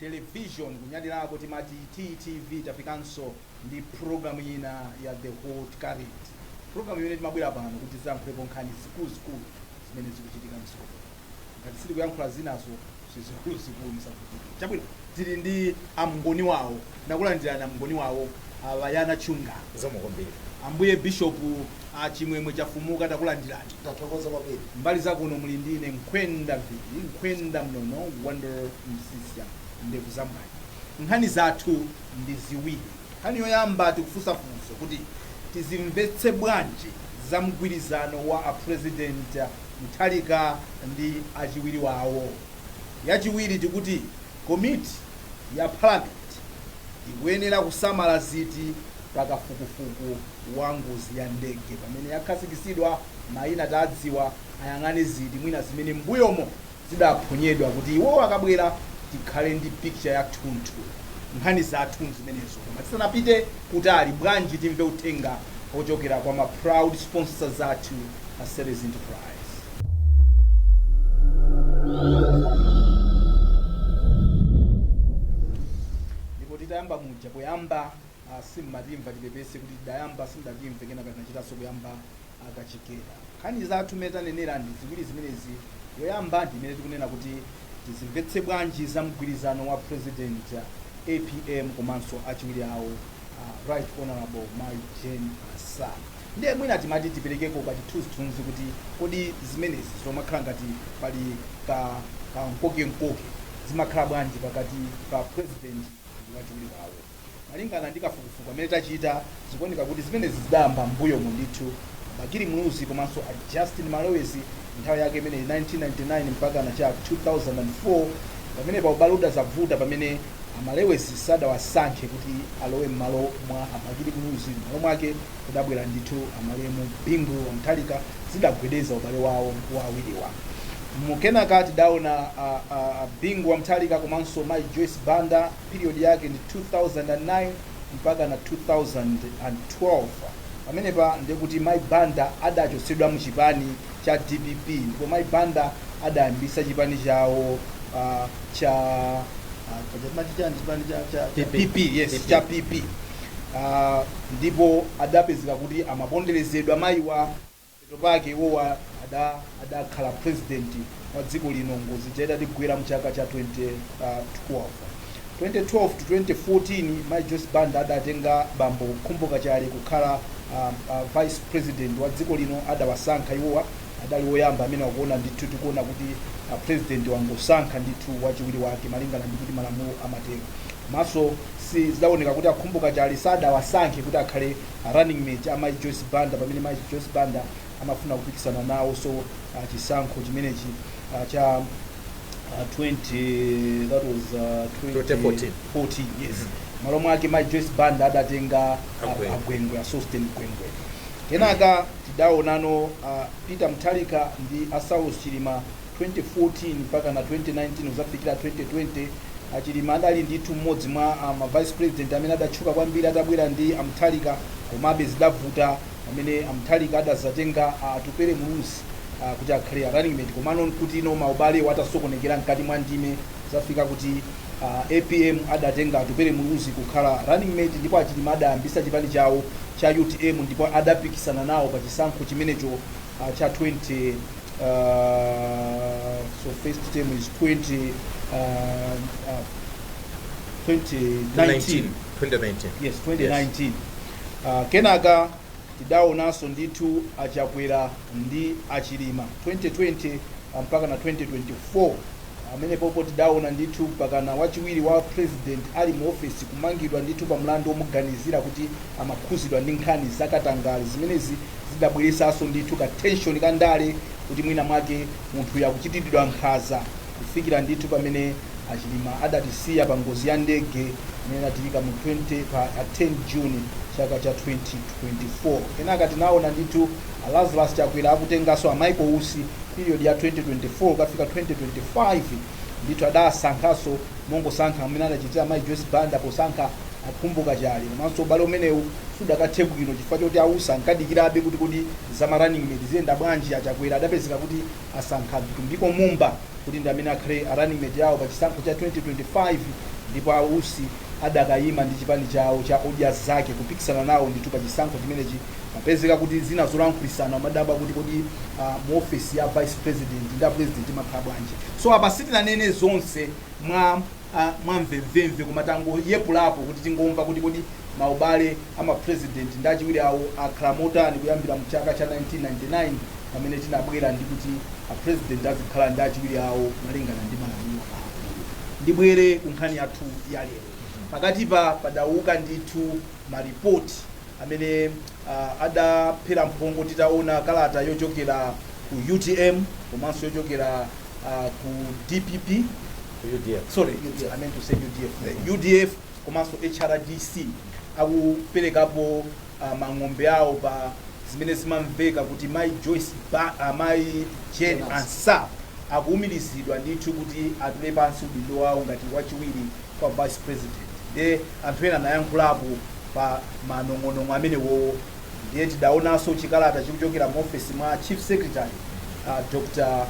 television kunyadirako timati TTV tafikanso ndi program ina ya the hot current program imene timabwera pano kuti tizankhulepo nkhani zikuluzikulu zimene zikuchitika mdziko muno ngati sitikuyankhula zinazo zizikuluzikulu musavutike chabwino tili ndi amngoni wawo takulandirani amngoni wawo a Bayana Chunga Zikomo kwambiri. ambuye bishop A chimwemwe chafumuka takulandirani. Tathokoza kwambiri. Mbali zakuno muli ndi ine Nkhwenda Mviri Nkhwenda Mnono Wonder Msiska ndevu za mwayi. Nkhani zathu ndi ziwiri. Nkhani yoyamba tikufunsa funso kuti tizimvetse bwanji za mgwirizano wa a president Mutharika ndi achiwiri wawo. Yachiwiri tikuti komiti ya parliament ikuyenera kusamala ziti pa kafukufuku. wa ngozi ya ndege pamene yakhazikitsidwa maina tadziwa ayang'ane ziti mwina zimene m'mbuyomo zidaphonyedwa kuti iwowo akabwera tikhale ndi picture ya thunthu nkhani zathu nzimenezo koma tisanapite kutali bwanji timve uthenga wochokera kwa ma proud sponsors athu a series enterprise ndipo titayamba muja poyamba ah, simmatimva tipepese kuti tidayamba simdatimve kenaka tinachitanso kuyamba kachikena nkhani zathu imene tanenera ndi ziwiri zimenezi yoyamba ndi imene tikunena kuti tizimvetse bwanji za mgwirizano wa president ah, apm komanso achiwiri awo ah, right honorable mai Jane Ansah ndiye mwina timati tiperekeko kachithunzithunzi kuti kodi zimenezi zomakhala ngati pali kamkokemkoke zimakhala bwanji pakati pa president ndi wachiwiri wawo Malingana ndi kafukufuku amene tachita, zikuoneka kuti zimenezi zidayamba mmbuyomu ndithu. A Bakili Muluzi komanso a Justin Malewezi nthawi yake imeneyi 1999 mpakana cha 2004, pamenepa ubale udazavuta pamene a Malewezi sadawasankhe kuti alowe mmalo mwa a Bakili Muluzi mmalo mwake kudabwera ndithu a malemu Bingu Wa Mutharika zidagwedeza ubale wawo wa awiriwa. Kenaka tidaona a Bingu Wa Mutharika komanso mayi Joyce Banda, period yake ndi 2009 mpakana 2012. Pamenepa ndiye kuti Mayi Banda adachotsedwa mu chipani cha dpp ndipo Mayi Banda adayambitsa chipani chawo ah, cha ah, paja timati chani chipani cha, cha, cha PP. PP, yes, PP. cha PP. Ah, ndipo adapezeka kuti amaponderezedwa mayiwa Mapeto pake iwowa adakhala president wa dziko lino ngozi ija itatigwera mchaka cha 2012. 2012 to 2014 mayi Joyce Banda adatenga bambo Khumbo Kachali kukhala vice president wa dziko lino adawasankha iwowa adali oyamba amenewa kuona ndithu tikuona kuti president wangosankha ndithu wachiwiri wake malingana ndi kuti malamulo amatero komanso zidaoneka kuti a Khumbo Kachali sadawasankhe kuti akhale a running mate a Mayi Joyce Banda pamene Mayi Joyce Banda amafuna kupikisana nawonso ah, chisankho chimenechi ah, cha ah, 20 that was ah, 2014. 14 yes malo mwake Mayi Joyce Banda adatenga ah, a Gwengwe. A Gwengwe a Sosten Gwengwe kenaka tidaonano ah, Peter Mutharika ndi a Saulos Chilima 2014 mpaka na 2019 kudzafikira 2020, a Chilima adali ndithu mmodzi mwa a ma Vice President amene adatchuka kwambiri atabwera ndi a Mutharika komabe zidavuta pamene a Mutharika adadzatenga a Atupele Muluzi kuti akhale a running mate komano nkuti no maubalewo atasokonekera mkati mwa ndime kudzafika kuti a APM adatenga Atupele Muluzi kukhala running mate ndipo a Chilima adayambitsa chipani chawo cha UTM ndipo adapikisana nawo pa chisankho chimenecho a cha 20 Uh, so first term is 20, uh, uh, 2019. 2019 Yes, 2019. Uh, kenaka tidaonanso ndithu a Chakwera ndi a Chilima 2020 ah, mpaka na 2024 amene pompo tidaona ndithu mpaka na wachiwiri wa president ali mu ofesi kumangidwa ndithu pa mlandu womuganizira kuti amakhudzidwa ndi nkhani zakatangale zimenezi zidabweretsanso ndithu ka tension ka ndale kuti mwina mwake munthuyu akuchitiridwa nkhaza kufikira ndithu pamene a Chilima adatisiya pa ngozi ya ndege imene inachitika mu 20 pa a 10 June chaka cha 2024. Kenaka tinaona ndithu a Lazarus Chakwera akutenganso a Michael Usi period ya 2024 kukafika 2025 ndithu adasankhanso mongosankha mmene adachitira mayi Joyce Banda posankha A Khumbo Kachali, komanso ubale umenewu sudakathe bwino chifukwa choti a Usi ankadikirabe kuti kodi za ma running mate ziyenda bwanji, a Chakwera adapezeka kuti asankha Vitumbiko Mumba kuti ndi amene akhale a running mate awo pa chisankho cha 2025 ndipo a Usi adakayima ndi chipani chawo cha Odya Zake kupikisana nawo ndithu pa chisankho chimenechi mapezeka kuti zina zolankhulisana umadabwa kuti kodi mu office ya vice president ndi a president imakhala bwanji so apa sitinanene zonse mwa a mvemvemve koma tangoyepulapo kuti tingomva kuti kodi maubale a ma president ndi achiwiri awo akhala motani kuyambira mu chaka cha 1999 pamene tinabwera ndi kuti a president azikhala ndi achiwiri awo malingana ndi malamulo awo ndibwere ku nkhani yathu ya lero pakatipa padauka ndithu ma report amene adaphera mphongo titaona kalata yochokera ku utm komanso yochokera ku dpp UDF. sorry UDF, I meant to say UDF the UDF komanso HRDC akuperekapo uh, mang'ombe awo pa zimene zimamveka kuti mai Joyce ba, uh, mai Jane Ansah akuumirizidwa ndithu kuti atule pansi udindo wawo ngati wachiwiri kwa vice president nde Anthu ena anayankhulapo pa manong'onong'o amenewo ndiye tidaonanso chikalata chikuchokera muofesi mwa Chief Secretary, a Dr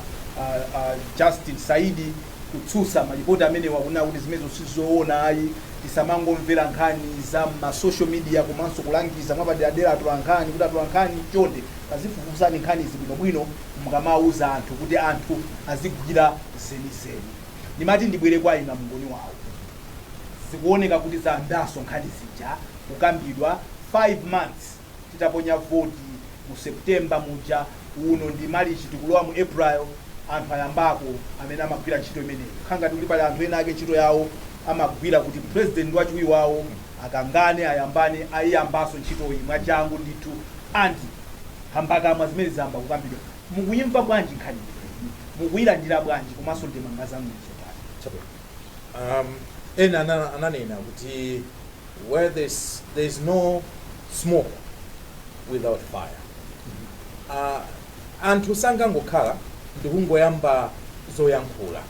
Justin Saidi kutsutsa malipoti amenewa kunena kuti zimenezo si zoona ayi, tisamangomvera nkhani za mma social media komanso kulangiza mwapaderadera atolankhani kuti atolankhani chonde tadzifufuzani nkhanizi bwinobwino mukamauza anthu kuti anthu azigwira zenizeni. Ndimati ndibwere kwa inu a Mngoniwawo. zikuoneka kuti zayambanso nkhani zija kukambidwa 5 months titaponya voti mu September muja, uno ndi Malichi tikulowa mu April anthu ayambako amene amagwira ntchito imeneyi kukhala ngati kuti pali anthu ena ake ntchito yawo amagwira kuti president ndi wachiwiri wawo akangane ayambane ayiyambanso ntchitoyi mwachangu ndithu and nkhambakamwa zimene zayamba kukambidwa mukuyimva bwanji nkhani imeneyi mukuyilandira bwanji komanso ndemanga zanu ndi zotani? Chabwino. Um, ena ana- ananena kuti where there's, there's no smoke without fire uh, anthu sangangokhala ndikungoyamba zoyankhula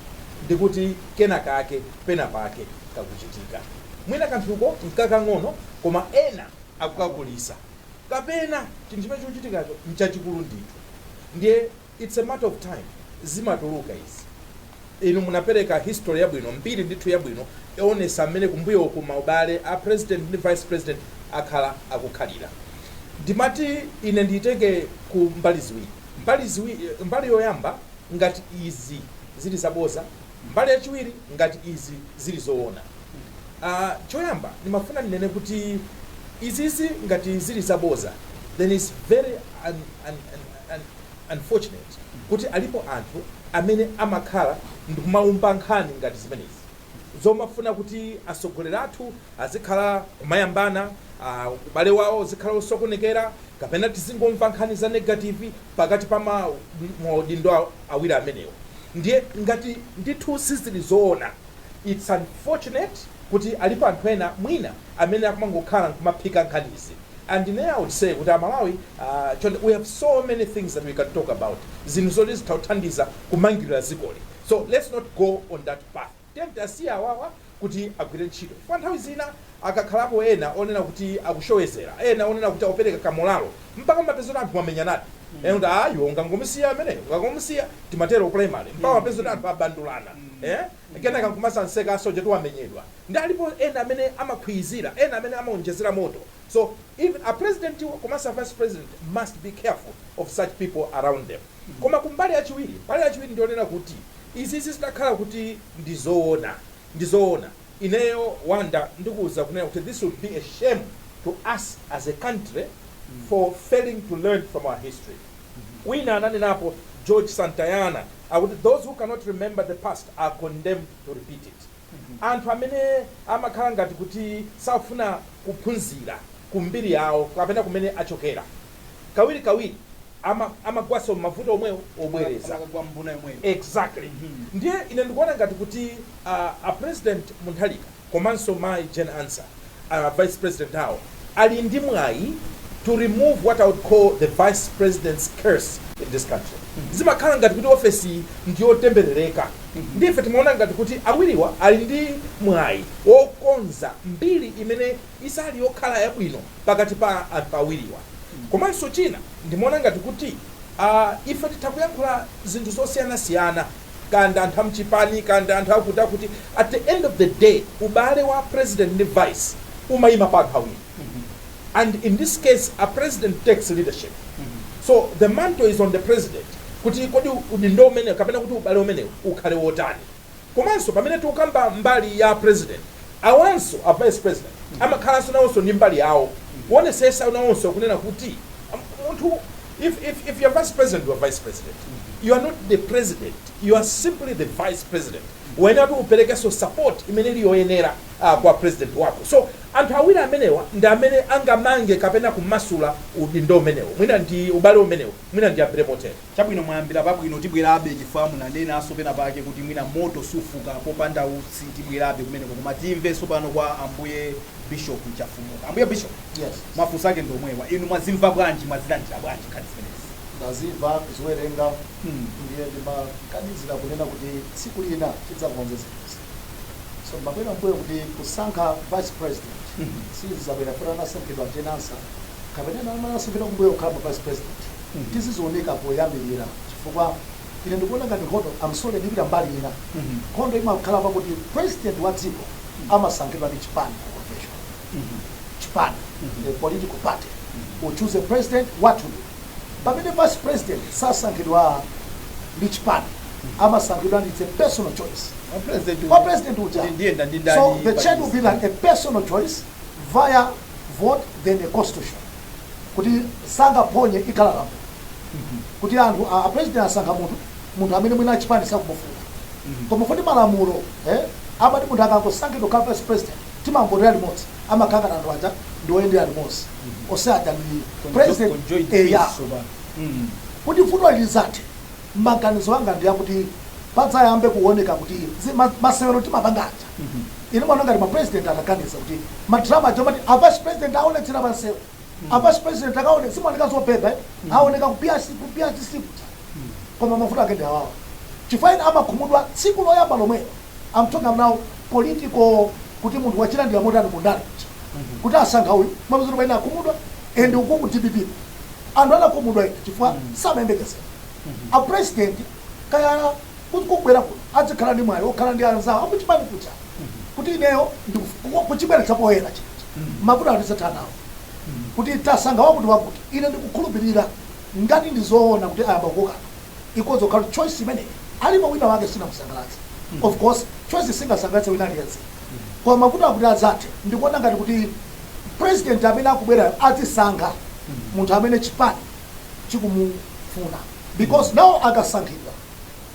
ndikuti kena kake pena pake kakuchitika mwina kanthuko nkakang'ono koma ena akukakulisa kapena chinthu chimene chikuchitikacho nchachikulu ndithu ndiye It's a matter of time zimatuluka izi. Inu munapereka history yabwino, mbiri ndithu yabwino yoonesa mmene kumbuyo uku maubale a president ndi vice president akhala akukhalira. Ndimati ine ndiitenge ku mbali ziwiri. Mbali ziwiri, mbali yoyamba ngati izi zili zaboza, mbali yachiwiri ngati izi zili zoona. Aah choyamba ndimafuna ndinene kuti izizi ngati zili zaboza then it's very un, un, un, un, unfortunate kuti alipo anthu amene amakhala ndikumaumba nkhani ngati zimenezi zomafuna kuti atsogoleri athu azikhala kumayambana uh, ubale wawo uzikhala osokonekera kapena tizingomva nkhani za negative pakati pa maudindo awiri amenewo ndiye ngati ndithu sizili zoona its unfortunate kuti alipo anthu ena mwina amene akumangokhala nkumaphika nkhanizi And ne I would say kuti a Malawi aah chonde we have so many things that we can talk about zinthu zoti zitha kuthandiza kumangilila dzikoli so let's not go on that path tiyeni tiasiye awawa kuti agwile ntchito chifukwa nthawi zina akakhalapo ena onena kuti akushoshezela ena onena kuti akupeleka ka moralo mpaka mumapeza kuti anthu amenyanadi ena kuti aah iwe ungangomusiya ameneyo ungangomusiya timatelo ku primary mpaka mumapeza kuti anthu abandulana eeh kenaka nkumadzamseka asojatu wamenyedwa nde alipo ena amene amakhwizira ena amene amaonjezera moto so even a president wo komanso a vice president must be careful of such people around them koma ku mbali yachiwiri mbali yachiwiri ndiyonena kuti izizi zitakhala kuti ndi zoona ndi zoona ineyo wonder ndikuuza kunena kuti this would be a shame to us as a country for failing to learn from our history. Wina ananenapo, George Santayana, akuti, Those who cannot remember the past are condemned to repeat it. Anthu amene amakhala ngati kuti safuna kuphunzira ku mbiri yawo kapena kumene achokera, kawirikawiri ama amagwanso m'mavuto omwewo obwereza. Amakagwa m'mbuna yomweyo. Exactly. Ndiye ine ndikuona ngati kuti a President Mutharika. komanso mayi Jane Ansah, a vice president awo, ali ndi mwayi to remove what I would call the vice president's curse in this country. Zimakhala ngati kuti ofesiyi ndi yotemberereka ndiye ife timaona ngati kuti awiriwa ali ndi mwayi wokonza mbiri imene siili yokhala yabwino pakati pa anthu awiriwa. Komanso china ndimaona ngati kuti ife titha kuyankhula zinthu zosiyanasiyana. kaya ndi anthu amchipani kaya ndi anthu akuti akuti at the end of the day ubale wa president ndi vice umayima pa anthu awiri and in this case a president takes leadership so the mantle is on the president kuti kodi udindo umene kapena kuti ubale umenewu ukhale wotani komanso pamene tikukamba mbali ya president awanso a vice president amakhalanso nawonso ndi mbali yawo kuonesesa nawonso kunena kuti am- munthu if if if your vice president your vice president you are not the president you are simply the vice president uyenera kuti uperekenso support imene ili yoyenera uh, kwa president wako so anthu awiri amenewa ndi amene angamange kapena kumasula udindo umenewo mwina ndi ubale umenewo mwina ndiyambire motere chabwino mwayambira pabwino tibwerabe chifukwa mwanenanso pena pake kuti mwina moto sufuka popanda utsi tibwerabe kumeneko koma timvenso pano kwa ambuye Bishop Chafumuka. Ambuye Bishop, yes. Mafunso ake ndi omwewa. Inu mwazimva bwanji, mwazilandira bwanji nkhani zimenezi? Ndazimva, kuziwerenga, mm. ndiye ndimaganizira kunena kuti tsiku lina tidzakonze zinthuzi. So ndimabwera mbuyo kuti kusankha vice president mm -hmm. sizinabwere kuti anasankhidwa Jane Ansah kapena ena anasankhidwa kumbuyo kukhala ma vice president mm -hmm. tiziziunika poyambirira chifukwa ine ndikuona ngati nkhondo I'm sorry ndipita mbali ina mm -hmm. nkhondo imakhala pakuti president wa dziko amasankhidwa ndi chipani ku convention. Chipani, a political party, will choose a president wawoyo. Pamene vice president sasankhidwa ndi chipani, amasankhidwa ndi, it's a personal choice, Kwa president kwa uyu, president uja. kuti ndiyenda ndi ndani So the pa chair will be list. like a personal choice ya vote than a constitution. Kuti sangaphonye ikhala lamulo. Kuti anthu a a president asankha munthu munthu amene mwina achipani sakumufuna komanso kuti malamulo eh, amati munthu akangosankhidwa kukhala vice president timamvotera limodzi amakhala ngati anthu aja ndi oyendera limodzi onse aja ndi president Conjoined eh, ya. peace tsopano. Mm. kuti vuto lizathe maganizo anga ndi akuti padzayambe kuoneka kuti zi- ma- masewero timapanga aja ine ndimaona ngati mapresident ataganiza kuti madrama aja mati avice president akaonetsera pamsewu avice president akaone zimaoneka zobhebha eh? aoneka ku PR ku PR kuja koma mavuto ake ndi awawa chifukwa ena amakhumudwa tsiku loyamba lomwelo am talking about now political kuti munthu wachilandira motani mu ndale kuja kuti asankha uyu mapeza kuti ena akhumudwa and uku ku dpp anthu anakhumudwa ena chifukwa samayembekezera a president kaya ku- kubwera kuno adzikhala ndi mwayi okhala ndi anzawo akuchipani kuja kuti ineyo ndikufu- kuchibweretsa poyera chija mavuto atisathanawo kuti tasankha wakuti wakuti ine ndikukhulupirira Ngati ndi zoona kuti ayamba kukokana, ikhoza kukhala kuti choice imeneyi alipo wina wake sinamusangalatse. Of course choice singasangalatse wina aliyense koma mavuto kuti adzathe ndikuona ngati kuti president amene akubwerayo adzisankha munthu amene chipani chikumufuna because nawo akasankhidwa,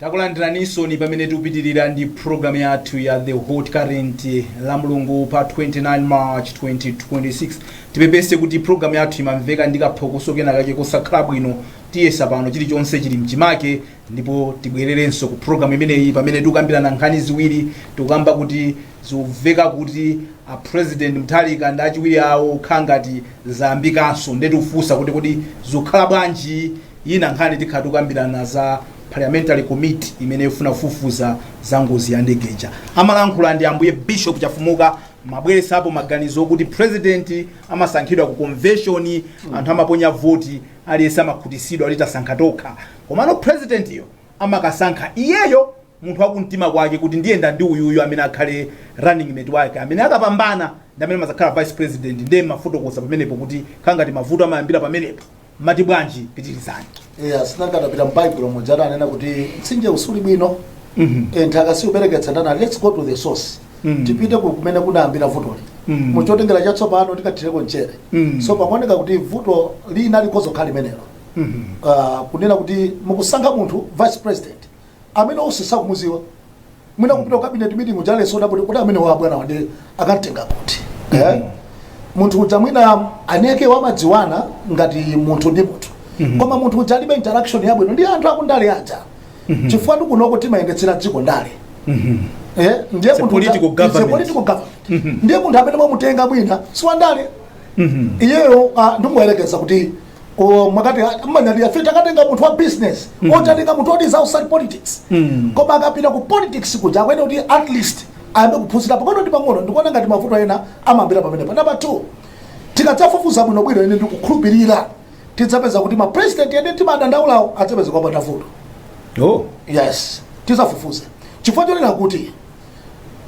takulandiranisoni pamene tikupitirira ndi programu yathu ya the hot current la mulungu pa 29 march 2026 tipepese kuti programu yathu imamveka ndi kaphokoso kena kake kosakhala bwino tiyese pano chilichonse chili mchimake ndipo tibwererenso ku program imeneyi pamene tikukambirana nkhani ziwiri tikukamba kuti zikuveka kuti a president Mutharika ndi achiwiri awo kukhala ngati zayambikanso nde tikufunsa kuti kodi zikukhala bwanji ina nkhani tikhala tikukambirana za parliamentary committee imene ikufuna kufufuza za ngozi ya ndege ija amalankhula ndi ambuye bishop chafumuka mmabweresapo maganizo okuti president amasankhidwa ku convention anthu amaponya voti Aliyense amakhutisidwa kuti tasankha tokha komano president yo amakasankha iyeyo munthu wakumtima kwake kuti ndiyenda ndi uyuyu amene akhale running mate wake amene akapambana ndi amene amazakhala vice president nde mmafotokoza pamenepo kuti khala ngati mavuto amayambila pamenepo mmati bwanji pitilizani. Eya si nanga atapita m'Baibulo muja adanena kuti mtsinjewu suli bwino, eh, nthaka siubereketsa ndiye, let's go to the source. Mm. tipite ku kumene kunayambira vutoli Mm. mu chotengera chatsopano tikathireko mchere Mm. so pakuoneka kuti vuto lina likhoza kukhala limenelo Mhm. uh, kunena kuti mukusankha munthu vice president amene onse sakumuziwa mwina kupita ku cabinet meeting uja aliyense kudabwa kuti ameneyu abwanawa anakamtenga kuti eh? munthu uja mwina eni ake wamadziwana ngati munthu ndi munthu Mhm. koma munthu uja alibe interaction yabwino ndi anthu akundale aja Mhm. chifukwa ndikunoku timayendetsa dziko ndale mhm. eh, ndiye mhm. munthu amene mwamutenga mwina siwandale iyeyo ah, ndikuyerekeza kuti oh, mwakati ah, timanyadira ife takatenga munthu wa business tatenga munthu who is outside politics koma akapita ku politics kuja akuyenera kuti at least ayambe kuphunzira pang'ono ndi pang'ono ndikuona ngati mavuto ena amayambira pamenepo number two tikadzafufuza bwinobwino ine ndikukhulupirira tidzapeza kuti ma president ena timadandaulawo adzapezeka opanda vuto oh yes tizafufuze chifukwa chonena kuti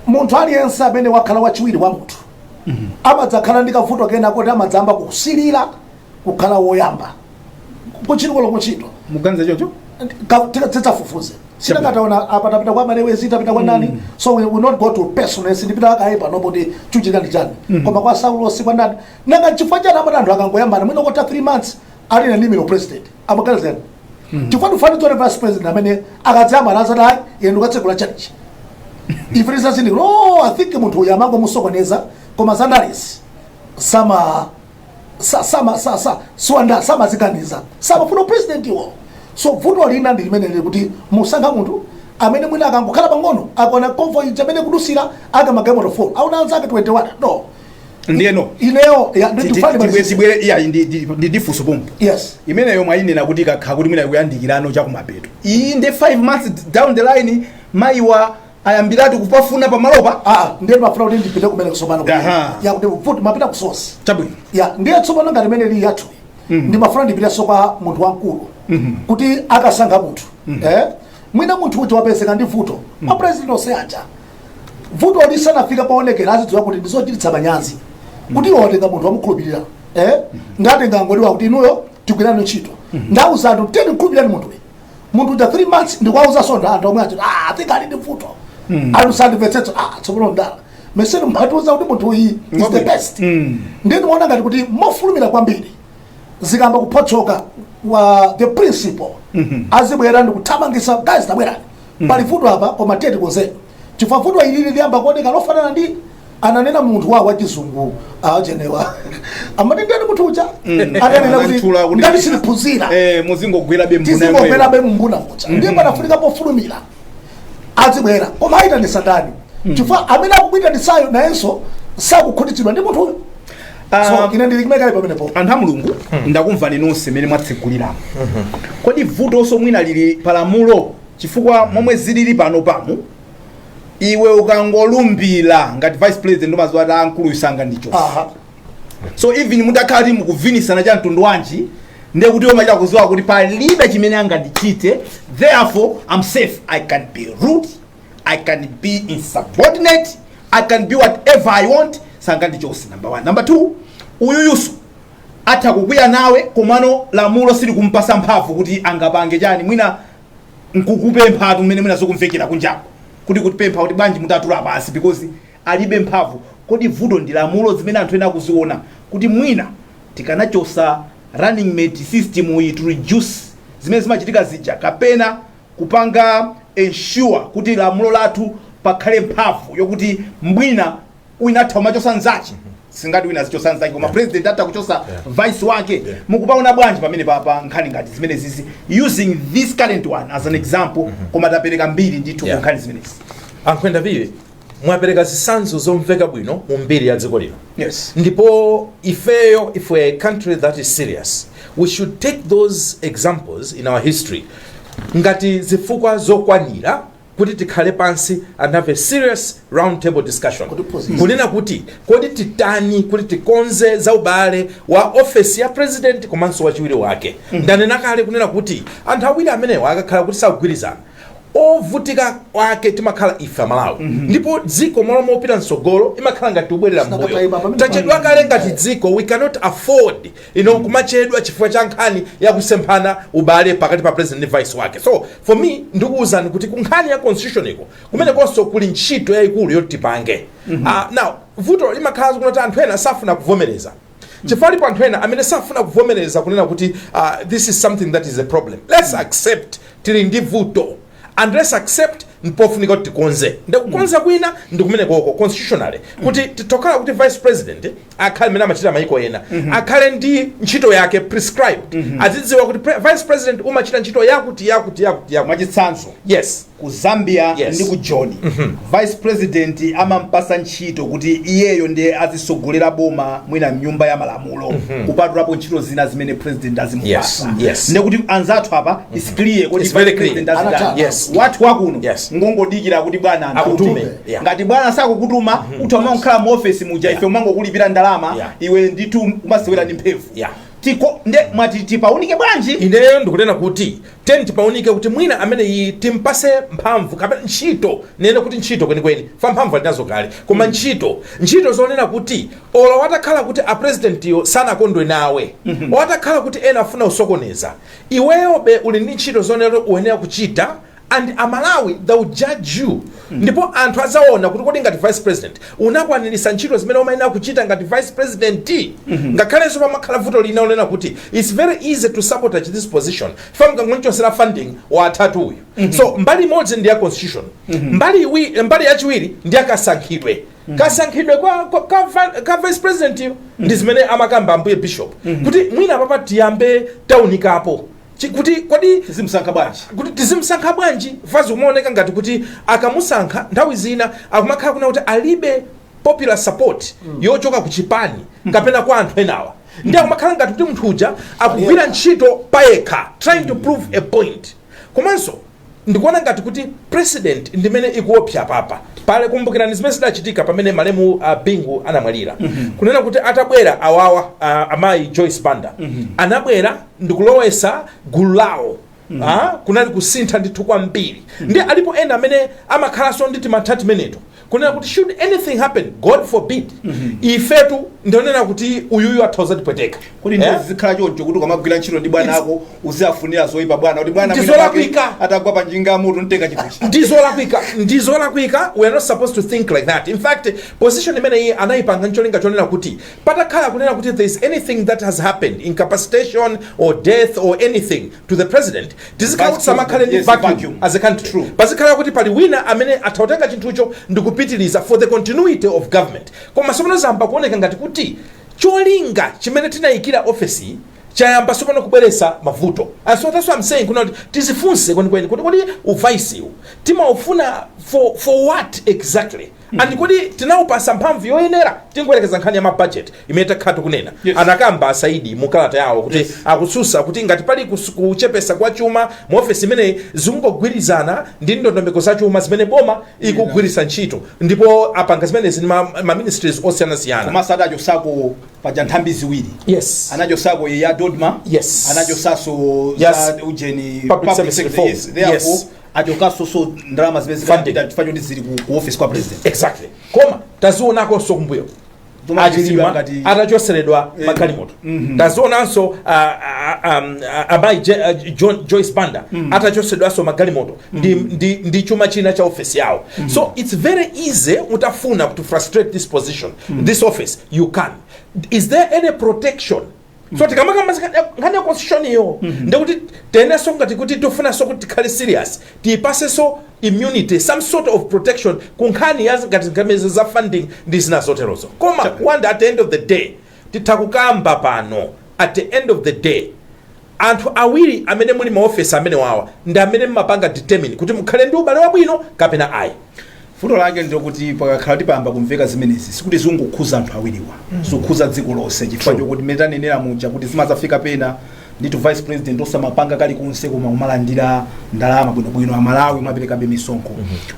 munthu aliyense amene wakhala wachiwiri wa munthu amadzakhala ndi kavuto kena kuti amadzayamba kusilira kukhala woyamba kuchirikoloko kuchito muganiza chocho tidzafufuze tingotaona apa tapita kwa malewezi tapita kwa nani so we will not go too personal sindipita kaye pano kuti chikuchitika ndi chani koma kwa saulosi kwa nani nanga chifukwa chani amati anthu akangoyambana mwina patha 3 months ali na nimero president amaganiza chani chifukwa ndifuna tione vice president amene akadzayambana adzati ayi ine ndikatsekula church ife tidzati no i think munthu uyu amangomusokoneza koma zandalezi sama sa- sama sa- sa- siwanda samaziganiza samafuna upresident iwo so vuto lina ndi limene lili kuti musankha munthu amene mwina akangokhala pang'ono akaona convoy amene ikudutsa yake magalimoto 4 aona anzake 21 no ndeno ineyo ya- ndi- ndifane basi. tibwere iya ndi- ndi- ndi- ndifunse pompo yes imeneyo mwayinena kuti kaya kuti mwina ikuyandikirano chakumapeto iyi ndi 5 months down the line mayiwa ayambiratu kupafuna pamalopa ah ndiye ndimafuna kuti ndipite kumene kutsopano Aha. ya kuti vuto mwapita ku source chabwino ya ndiye tsopano ngati imene ili yathu ndimafuna ndipiteso kwa munthu wamkulu kuti akasankha munthu eh mwina munthu uja wapezeka ndi vuto ma president onse aja vuto lisanafike poonekera azidziwa kuti ndizochititsa manyazi kuti iwo watenga munthu wamukhulupirira eh? ndatenga ngodiwa kuti inuyo tigwire ntchito ndauza anthu kuti mukhulupirireni munthuyi munthu uja 3 months ndikuwauzanso anthu omwe aja ati ah, ati ali ndi vuto anthu sangandimvetsetse ah, tsopano ndanama nthawi mmatiuza kuti munthu uyi is the best ndiye ndimaona ngati kuti mofulumira kwambiri zikayamba kupotoka the principal azibwera ndikuthamangisa guys tabwerani pali vuto apa koma tiye tikonzere chifukwa vuto ili likuyamba kuoneka lofanana ndi ananena munthu wa wachizungu ajenewa amati ndani munthu uja ananena Ananthula kuti kuti- ndani siliphunzira Eh, muzingogwerabe mbuna yomweyo. tizingogwerabe mumbuna muja ndiye panafunika pofulumira azibwera koma ayitanisa ndani chifukwa amene akuyitanitsayo nayenso sakukhutitsidwa ndi munthuyo Ah, so ine ndili kumene kale pamenepo anthu a mulungu ndakumvani nonse mmene mwatseguliramo kodi vutonso mwina lili palamulo chifukwa momwe zilili panopamu iwe ukangolumbira ngati vice president umaziwa eti akuluwa sangandichotse aha so even mutakhala ti mukuvinisana cha mtundu wanji nde kuti umachita kuziwa kuti palibe chimene angandichite therefore i'm safe i can be rude i can be insubordinate i can be whatever i want sangandichose number one number two uyuyuso atha kukwiya nawe komano lamulo silikumpasa mphamvu kuti angapange chani mwina nkukupempha atu mmene mwina zokumvekera kunjako kuti kutipempha kuti bwanji mutatula pansi because alibe mphamvu kodi vuto ndi lamulo zimene anthu ena akuziona kuti mwina tikanachosa running mate system iyi to reduce zimene zimachitika zija kapena kupanga ensure kuti lamulo lathu pakhale mphamvu yokuti mwina wina atha kumachosa nzache si ngati wina azichosa nzake koma president atha kuchosa vice wake mukupaona bwanji pamenepapa nkhani ngati zimenezizi using this current one as an example koma tapereka mbiri ndithu ku Yeah. nkhani zimenezi a Nkhwenda Phiri mwapereka zitsanzo zomveka bwino mu mbiri ya dziko lino Yes. ndipo ifeyo if we're a country that is serious we should take those examples in our history ngati zifukwa zokwanira kuti tikhale pansi and have a serious round table discussion Kutiphunzitsa. kunena kuti kodi titani kuti tikonze za ubale wa ofesi ya president komanso wachiwiri wake ndanena kale kunena kuti anthu awiri amenewa akakhala kuti sakugwirizana ovutika wake timakhala ife amalawi ndipo dziko malo mopita mtsogolo imakhala ngati tikubwerera Saka mbuyo taiba, pamene tachedwa pali- kale ngati dziko we cannot afford you know, kumachedwa chifukwa cha nkhani ya kusemphana ubale pakati pa president ndi vice wake so for me ndikuwuzani kuti ku nkhani ya constitution iko kumenekonso kuli ntchito yayikulu yoti tipange Ah, now vuto limakhala kuti anthu ena safuna kuvomereza chifukwa alipo anthu ena amene safuna kuvomereza kunena kuti uh, this is something that is a problem let's accept tili ndi vuto and let's accept mpofunika kuti tikonze ndikukonza kwina ndi kumenekoko constitutionally kuti titokhala kuti vice president akhale mmene amachita mayiko ena akhale ndi ntchito yake prescribed azidziwa kuti pre- vice president umachita ntchito yakuti yakuti yakuti yakuti mwachitsanzo yes ku zambia Yes. ndi ku Joni vice president amampasa ntchito kuti iyeyo ndiye azisogolera boma mwina mnyumba ya malamulo kupatulapo ntchito zina zimene president azimupasa Yes, yes. ndekuti anzathu apa is clear kuti It's very vice president clear. azitani. Anathana. Yes. wathu wakuno Yes. ngongodikira kuti bwana Akutume. utume. Yeah. ngati bwana sakukutuma utha kumangokhala mu office muja ife umangokulipira ndalama Yeah. iwe ndithu umasewera ndi mphemvu Yeah. tiko nde mwati tipaunike bwanji ineyo ndikunena kuti Tiyeni tipaunike kuti mwina amene iyi timpase mphamvu kapena ntchito nene kuti ntchito kwenikweni fa mphamvu ali nazo kale koma ntchito ntchito zonena kuti olo watakhala kuti a president yo sanakondwe nawe watakhala kuti ena afuna usokoneza iweyobe uli ndi ntchito zonena kuti uyenera kuchita and a Malawi they will judge you Ndipo anthu azaona kuti kodi ngati vice president unakwaniritsa ntchito zimene umayenera kuchita ngati vice president. Ngakhalenso pamakhala vuto lina lonena kuti it's very easy to sabotage this position fa mukangomchosera funding wathatu uyu. So mbali imodzi ndi ya constitution, mbali iwi, mbali yachiwiri ndi ya kasankhidwe. Kasankhidwe kwa, kwa, ka, va- ka vice president yo ndi zimene amakamba ambuye bishop kuti mwina papa tiyambe taunikapo Ch kuti, kodi. Tizimsankha bwanji? kuti, Tizimsankha bwanji? fa zikumaoneka ngati kuti akamusankha nthawi zina akumakhala kunena kuti alibe popular support yochoka ku chipani kapena kwa anthu enawa ndi akumakhala ngati kuti munthu uja akugwira ntchito payekha trying to prove a point komanso Ndikuona ngati kuti precedent ndimene ikuopsa apapa. Pale kumbukirani zimene zidachitika pamene malemu uh, Bingu anamwalira. Mm -hmm. Kunena kuti atabwera awawa uh, amayi Joyce Banda mm -hmm. anabwera ndikulowesa gulu lawo Mm -hmm. kunali kusintha ndithu kwambiri mm -hmm. ndi alipo ena amene amakhalanso ndi timantha timeneto kunena kuti should anything happen god forbid mm -hmm. ifetu ndionena kuti uyuyu athoza tipweteka kuti ndiye zikhala choncho kuti ukamagwira ntchito ndi bwana ako uziafunira zoyipa bwana kuti bwana ndizolakwika atagwa pa njinga mutu nteka chikuchi ndizolakwika ndizolakwika we are not supposed to think like that in fact position imene iyi anayipanga ncholinga chonena kuti patakhala kunena kuti there is anything that has happened incapacitation or death or anything to the president tizikhala kuti tisamakhale ndi vacuum as a country pazikhala kuti pali wina amene atha kutenga chinthucho ndi kupitiliza for the continuity of government koma sopano zayamba kuoneka ngati kuti cholinga chimene tinayikira ofesi chayamba sopano kubweresa mavuto and so that's what i'm saying kuna kuti tizifunse kwenikweni kuti kodi uvaisiwu timaufuna for, for what exactly and kodi tinaupatsa mphamvu yoyenera tingoyerekeza nkhani ya mabajeti imene takhala tikunena Yes. anakamba a Saidi mu kalata yawo kuti Yes. akususa kuti ngati pali kus- kuchepesa kwa chuma mu ofesi imeneyi zikungogwirizana ndi ndondomeko za chuma zimene boma ikugwiritsa ntchito ndipo apanga zimenezi ndi ma- ma ministries osiyanasiyana komanso adachosako paja nthambi ziwiri yes anachosako ya DoDMA Yes. anachosaso Yes. za ujeni Public Service Reform. Yes, therefore, Yes. achokaso so ndalama zimene Funding zikapita chifukwa choti zili ku- ku office kwa president exactly koma tazionakonso kumbuyo Zomwe achilima ngati- atachotseredwa Eh, magalimoto mhm. tazionanso ah, ah, um, ah, amayi Je- ah, John- joyce banda atachotseredwanso magalimoto ndi, ndi, ndi chuma china cha ofesi yawo so its very easy utafuna to frustrate this position this office you can is there any protection so tikamakamba nkhani ya constitution iyo ndekuti tiyeneso ngati kuti tifunaso kuti tikhale serious tiyipaseso immunity some sort of protection ku nkhani ya ngati ngati zimenezo za funding ndi zina zoterozo koma wanda at the end of the day titha kukamba pano at the end of the day anthu awiri amene muli maofesi amene wawa ndi amene mmapanga determine kuti mukhale ndi ubale wabwino kapena ayi vuto lake ndilokuti pakakhala kuti payamba kumveka zimenezi sikuti zikungokhuza anthu awiriwa zikukhuza dziko lonse chifukwa chokuti mmene tanenera muja kuti zimadzafika pena ndithu vice president osamapanga kalikonse koma kumalandira ndalama bwinobwino amalawi kumaperekabe misonkho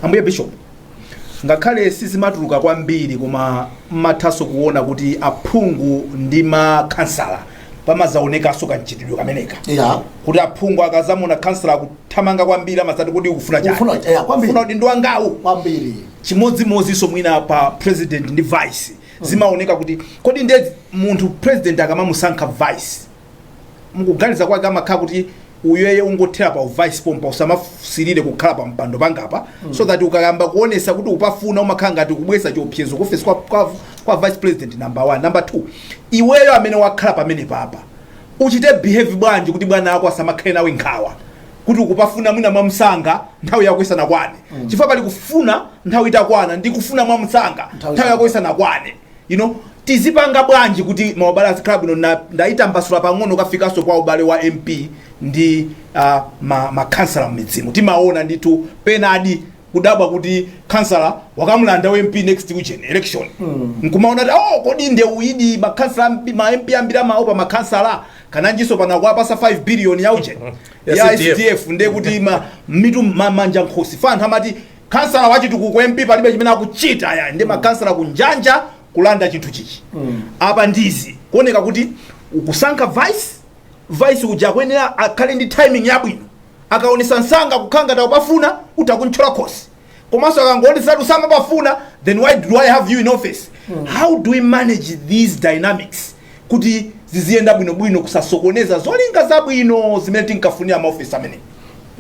ambuye bishop ngakhale sizimatuluka kwambiri koma mmathanso kuona kuti aphungu ndi makhansala pamazaonekaso kanchitidwe kameneka yeah kuti aphungu akazamuona khansala akuthamanga kwambiri amazati kodi ukufuna chani ufuna udindo wangawu kwambiri chimodzimodziso mwina pa president ndi vice mm. zimaoneka kuti kodi nde munthu president akamamusankha vice mukuganiza kwake amakhala kuti uyeye ungothera pa uvice pompa usamasilire kukhala pa mpando pangapa mm. so that ukayamba kuonesa kuti ukupafuna umakhala ngati kubweretsa chiopsezo kuofesi kwa, kwa, kwa vice president number 1 number 2 iweyo amene wakhala pamene papa uchite behave bwanji kuti bwana ako asamakhale nawe nkhawa kuti ukupafuna mwina mwamsanga nthawi yako isanakwane mm. chifukwa pali kufuna nthawi itakwana ndi kufuna mwamsanga nthawi yako isanakwane you know tizipanga bwanji kuti maubale azikhala bwino Na- ndayitambasula pang'ono kafikanso kwa ubale wa mp ndi uh, ma, makhansala mmidzimu timaona ndithu penadi kudabwa kuti khansala wakamulanda wa mp next ujeni election mm. nkumaona kuti oh, kodi nde uyidi makansala ambi- ma mp ambiri amaopa makansala kananjinso pano akuwapasa 5 billion ya ujeni Ya ya CDF. sdf nde kuti ma, mitu ma, manja nkhosi anthu amati khansala wa chitukuko mp palibe chimene akuchita aya ndi makhansala kunjaku kulanda chinthu chichi apa nde zikuoneka kuti ukusankha vice vice uja akuyenera akhale ndi timing yabwino akaonesa msanga kukhala ngati akupafuna uti akumthyola khosi komanso akangoonesa kuti sakupafuna then why do i have you in office how do we manage these dynamics kuti ziziyenda bwinobwino kusasokoneza zolinga zabwino zimene tinkafunira maofesi amene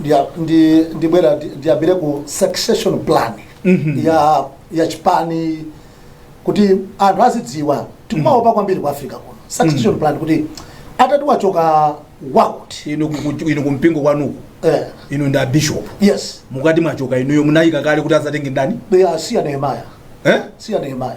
Ndia- ndi ndibwera ndi- ndiyambire ku succession plan ya ya chipani kuti anthu azidziwa tikumaopa kwambiri ku africa kuno succession plan kuti atati wachoka wakuti inu kuku- inu kumpingo kwanuku eh, inu ndi abishop yes mukati mwachoka inuyo munaika kale kuti azatenge ndani siya nehemiya eh? siya nehemiya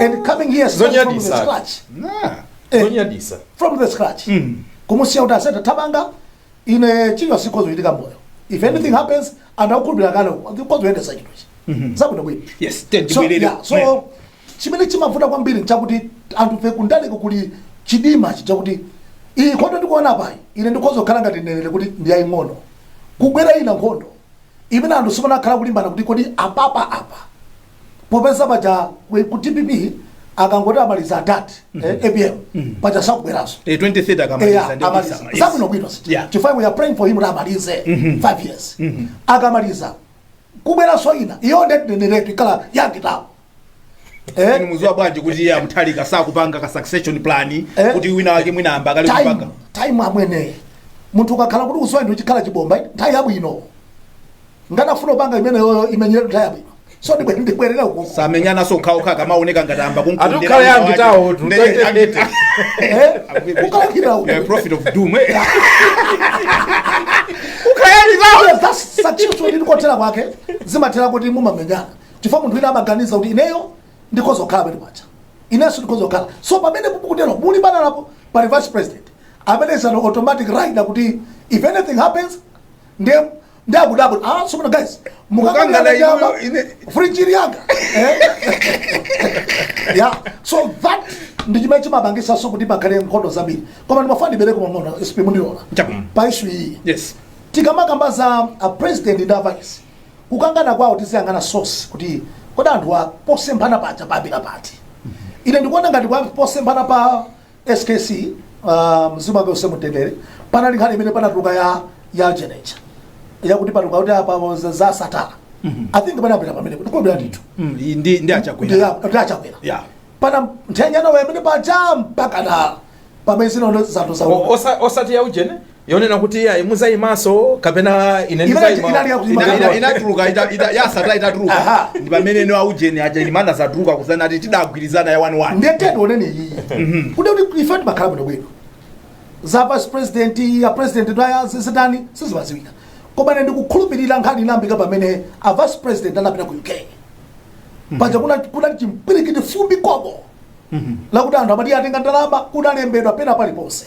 and coming here starting from the Zonyadisa. scratch Nah. Eh. zonyadisa from the scratch Mm. kumusiya kuti atati tapanga ine chilichonse chikhoza kuchitika moyo if anything happens anthu akukhulupirira kale khoza kuyendesa chinthuchi zabwinobwino Yes, Ted so, Bwelele. yeah, so chimene chimavuta kwambiri nchakuti anthufe kundaleko kuli chidima chakuti iyi nkhondo ndikuona panoyi ine ndikhoza kukhala ngati mneneri kuti ndi yaing'ono kukubwera ina nkhondo imene anthu sanakhalepo kulimbana kuti kodi apapa apa popeza paja ku- ku dpp akangoti amaliza adad apm paja sakubweranso Eh, 2030 akamaliza ndi amaliza Obama. Yes. zabwinobwino Yeah. chifukwa we are praying for him kuti amalize 5 years akamaliza kukubweranso ina iyo ndinenereretu ikhala ya kitawo Inu mudziwa bwanji kuti iye a mutharika sakupanga ka succession plan Eh. kuti wina wake mwina ayamba kale kupanga time amwene munthu ukakhala kuti uswa ndiye chikhala chibomba nthawi yabwino ukanafuna kupanga imeneyoyo imenyeretu nthawi yabwino so ndibwe- ndibwerera uku samenyananso okhaokha akamaoneka ngati ayamba Atukhala ya angitawo, tutaitete. ukaukira uku prophet of doom eh? Yes, that's such a story ndikothera kwake zimathera kuti mumamenyana chifukwa munthu wina amaganiza kuti ineyo ndikhoza kukhala pamene paja inenso ndikhoza kukhala so pamene mukutero mulimbana apo pali vice president amene is an automatic leader kuti if anything happens ndiye ndakudabula ah tsopano guys Mukangana inuyo, ine- frijiri yanga Eh? yeah so that ndi chimene chimapangisanso kuti pakhale nkhondo zambiri koma ndimafuna ndibwereko bwana sp mundilola Chabwino. pa ishu iyi yes tikamakamba za a president ndi a vice kukangana kwawo tiziyang'ana source kuti kodi anthu aposemphana paja panayambira pati ine ndikuona ngati kwa posemphana pa skc uh, mzimu wake uuse mumtendere panali nkhani imene inatuluka ya ya jeneja yakuti patuluka kuti apa bonza za satana i think panathera pamene kuti kobera ndithu Mm, ndi- ndi ndi achakwera kuti achakwera Yeah. pana ntchenjano wemene paja mpaka na pamene zinondo zanthu O- zawo osa- osati ya ujene yonena kuti iyayi mudzaimanso kapena ine Imene ndidzaima- inali ya kuima Ina- ina- inatuluka ita- ita- yasata itatuluka Aha. ndi pamene ino aujeni aja zina zatuluka kusana ati tidagwirizana ya 1 ndetete onene iyiyi kuti kuti ife timakhala bwino bwino za vice president ya president ndaya zitani sizimadziwika koma ine ndikukhulupirira nkhani inayambika pamene a vice president anapita ku uk paja kuna kuna chimpwirikiti fumbi koboo lakuti anthu amati atenga ndalama kunalembedwa pena paliponse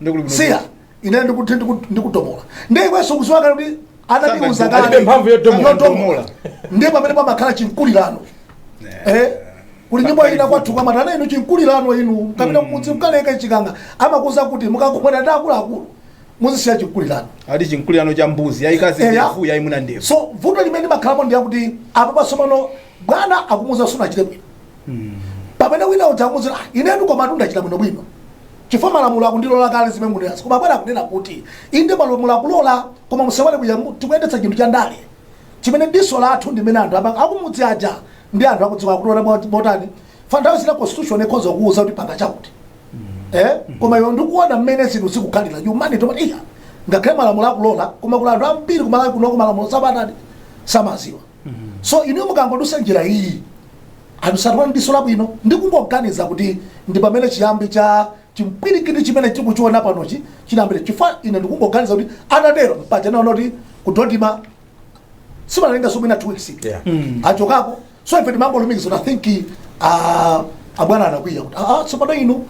Nde kuli kuno. siya ine ndikuti ndiku- ndikutomola nde iwenso ukudziwa kale kuti anatiuza Sanga- alibe mphamvu yotomola. Yotomola. ndiye pamene pamakhala chinkulirano Eh, kuli nyimbo ina kwathu kumati ana inu chinkulirano inu kapena kumudzi mkaleka chikanga amakuuza kuti mukakumana ndi akuluakulu muzisiya chinkulirano Ati chinkulirano cha mbuzi yayikazi Eya. ndevu yayimuna ndevu. so vuto limene limakhalapo ndi yakuti apa tsopano bwana akumuuza sunachite bwino pamene wina uja akumuuza "Ah, inetu komatu ndachita bwino bwino chifukwa malamulo akundilola kale zimene mwanenazi koma abwana akunena kuti inde malamulo akulola koma musaiwale kuja mu- tikuyendetsa chinthu cha ndale chimene diso lathu ndimene anthu apa- akumudzi aja ndi anthu akudziwa akutola mwa- motani nthawi zina constitution ikhoza kukuuza kuti panga chakuti eh koma iwe ndikuona mmene zinthu zikukhalira humanity umati iyayi ngakhale malamulo akulola koma kuna anthu ambiri kumalawi kunoko malamulo samatani samadziwa so inu mukangodutsa njira iyi anthu saona ndi diso labwino ndikungoganiza kuti ndi pamene chiyambi cha chimpwirikiti chimene tikuchiona panochi chinayambira chifukwa ine ndikungoganiza kuti anatero paja naona kuti kudodima sanalengeze somena two weeks Yeah. achokeko so ife timangolumikiza kuti i think ah, abwana anakwiya kuti ah, ah, tsopano inu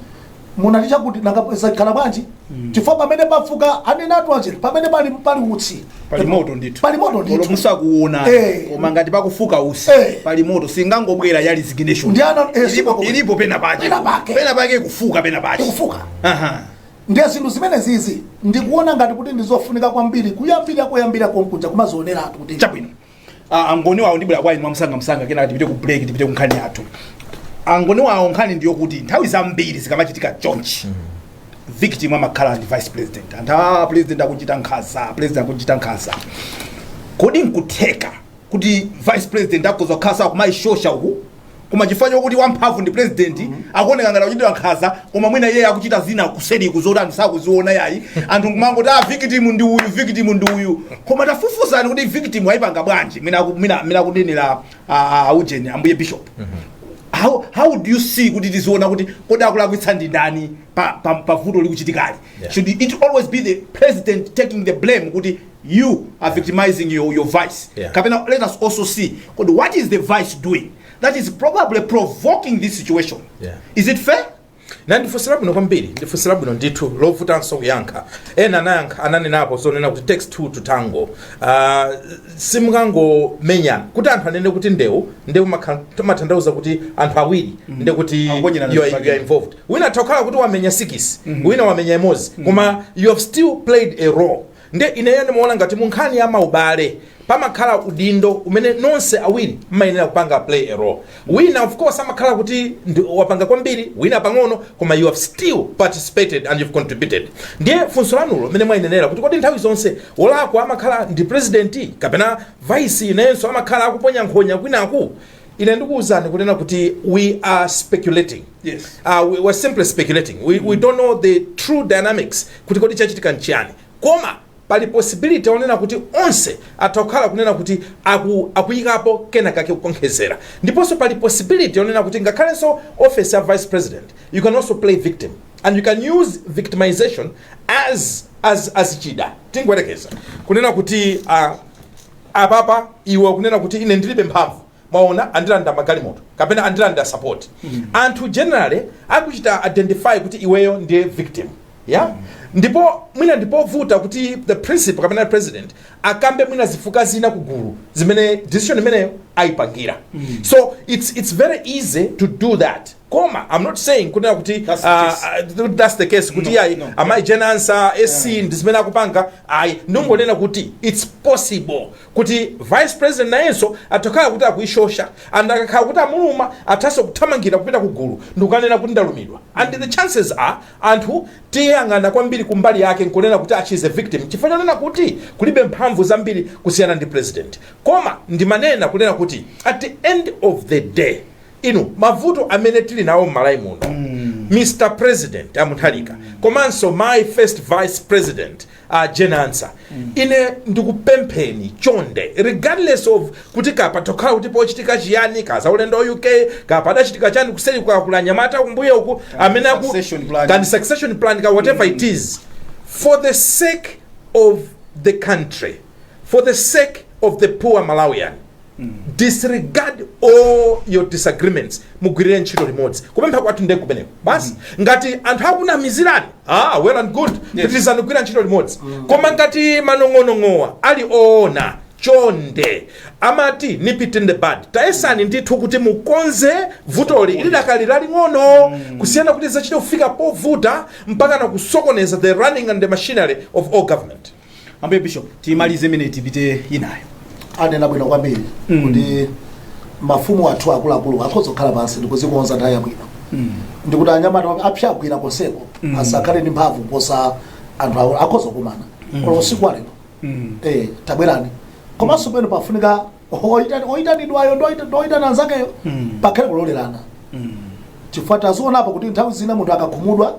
munati chakuti nanga zakhala bwanji chifukwa pamene pafuka ananenatu aujeni pamene pali pali utsi pali moto ndithu pali moto ndithu. Olo simukuona Eh. koma ngati pakufuka utsi Eh. pali moto singangobwera ya resignation Ndi ana- eh, ilipo, singangobwera. ilipo pena pake Pena pake. pena pake ikufuka pena pake ikufuka aha ndiye zinthu zimenezizi ndikuona ngati kuti ndizofunika kwambiri kuyambira koyambira konkuja kumazioneratu kuti chabwino Ah, aNgoni wawo ndibwera kwa inu mwamsangamsanga kenako tipite ku break tipite ku nkhani yathu aNgoni wawo nkhani ndiyo kuti nthawi zambiri zikamachitika chonchi victim amakhala ndi vice president anthu a president akuchita nkhaza president akuchita nkhaza kodi nkutheka kuti vice president akhoza kukhala sakumayishosha uku koma chifukwa chokuti wamphamvu ndi president akuoneka ngati akuchitira nkhaza koma mwina iye akuchita zina kuseriku zoti anthu sakuziona yayi anthu kumangoti a victim ndi uyu victim ndi uyu koma tafufuzani kuti victim ayipanga bwanji mwina aku- mwina mwina akunenera aujeni ambuye bishop how, how do you see kuti tiziona kuti kodi akulakwitsa ndi ndani pa, pa, pa vuto likuchitikali Yeah. should it always be the president taking the blame kuti you are yeah. victimizing your, your vice yeah. kapena let us also see kodi what is the vice doing that is probably provoking this situation yeah. is it fair na ndifunso labwino kwambiri ndifunso labwino ndithu lovutanso kuyankha ena anayankha ananenapo zonena kuti takes two to tango uh, simukangomenyana kuti anthu anene kuti ndewu ndewu imatanthauza kuti anthu awiri mm -hmm. nde kuti Akonyerana you are, zifake. you are involved wina atha kukhala kuti wamenya sikisi mm -hmm. wina wamenya imodzi mm -hmm. koma you have still played a role Nde ineyo ndimaona ngati mu nkhani ya ma ubale pamakhala udindo umene nonse awiri mmayenera kupanga play a role. Wina of course amakhala kuti ndi wapanga kwambiri wina pang'ono koma you have still participated and you've contributed. Ndiye funso lanulo mmene mwainenera kuti kodi nthawi zonse wolakwa amakhala ndi president kapena vice nayenso amakhala akuponya nkhonya kwinaku? ine ndikuwuzani kunena kuti we are speculating Yes. uh, we, we're simply speculating we, we don't know the true dynamics kuti kodi chachitika nchiyani koma pali possibility yonena kuti onse atha kukhala kunena kuti aku, akuyikapo kena kake kukonkhezera ndiponso pali possibility yonena kuti ngakhalenso office ya vice president you can also play victim and you can use victimization as as as chida tingoyerekeza kunena kuti uh, Apapa iwe ukunena kuti ine ndilibe mphamvu mwaona andilanda magalimoto kapena andilanda support anthu generally akuchita identify kuti iweyo ndiye victim ya ndipo mwina ndipovuta kuti the principal kapena president akambe mwina zifukwa zina kugulu zimene decision imeneyo ayipangira so it's, it's very easy to do that koma i'm not saying kunena kuti That's the ah, case. ah, th- that's the case kuti No, ayi no. amayi Jane Ansah SC ndi zimene akupanga ayi ndingonena kuti it's possible kuti vice president nayenso atha kukhala kuti akuishosha and akakhala kuti amuluma athanso kuthamangira kupita ku gulu ndikukanena kuti ndalumidwa and the chances are anthu tiyang'ana kwambiri kumbali yake nkunena kuti ah, she is a victim chifukwa chonena kuti alibe mphamvu zambiri kusiyana ndi president koma ndimanena kunena kuti at the end of the day Inu mavuto amene tili nawo mmalawi muno Mr president a Mutharika komanso mayi first vice president a Jane Ansah ine ndikupempheni chonde regardless of kuti kaya patha kukhala kuti pochitika chiyani kaya zaulendo wa UK kaya padachitika chani kuseli kaya kuli anyamata kumbuyo uku amene aku succession plan. kani succession plan ka whatever it is for the sake of the country for the sake of the poor Malawian disregard all your disagreements mugwirire ntchito limodzi kupempha kwathu ndiye kumeneko basi ngati anthu akunamizirani ah, well and good pitirizani kugwira ntchito limodzi koma ngati manong'onong'owa ali oona chonde amati nip it in the bud tayesani ndithu kuti mukonze vutoli ili dakali laling'ono kusiyana kuti zizachite kufika povuta mpaka na kusokoneza the running and the machinery of all government ambuye bishop timalize imeneyi tipite inayo anena bwino kwambiri Mm. kuti mafumu athu akuluakulu akhoza kukhala pansi ndikuzikonza nthawi yabwino ndikuti anyamata wake apsa agwira konseko Mm. asakhale ndi mphamvu kuposa anthu awo akhoza kukumana Mm. olo usiku walero Mm. eh, tabwerani komanso pena pafunika oitani- oitanidwayo ndi oita- ndi oitana anzakeyo Mm. pakhale kulolerana Mm. chifukwa tazionapo kuti nthawi zina munthu akakhumudwa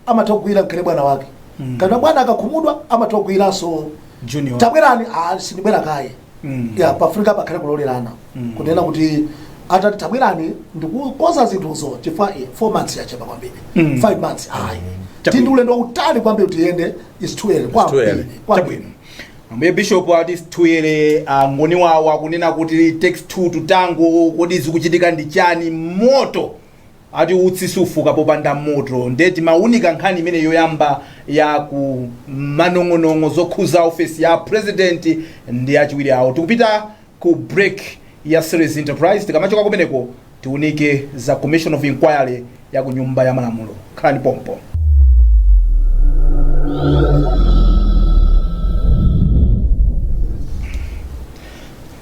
amatha kugwira nkhale bwana wake mm. kana bwana akakhumudwa amatha kugwiranso junior tabwerani ah, sindibwera kaye mm. ya pafunika pakhale kulolerana mm. kunena kuti atati tabwerani ndikukonza zinthuzo chifukwa 4 months yachepa kwambiri 5 mm. months ayi mm. tindi ulendo wautali kwambiri woti tiyende is too early kwambiri kwambiri ambuye bishop ati tuyere aMngoni wawo akunena kuti takes two to tango kodi zikuchitika ndi chani moto Ati utsi sufuka popanda moto nde timaunika nkhani imene yoyamba ya ku manong'onong'o zokhuza ofesi ya president ndi achiwiri awo. Tikupita ku break ya series Enterprise tikamachoka kumeneko tiunike za commission of inquiry ya ku nyumba ya malamulo. Khalani pompo.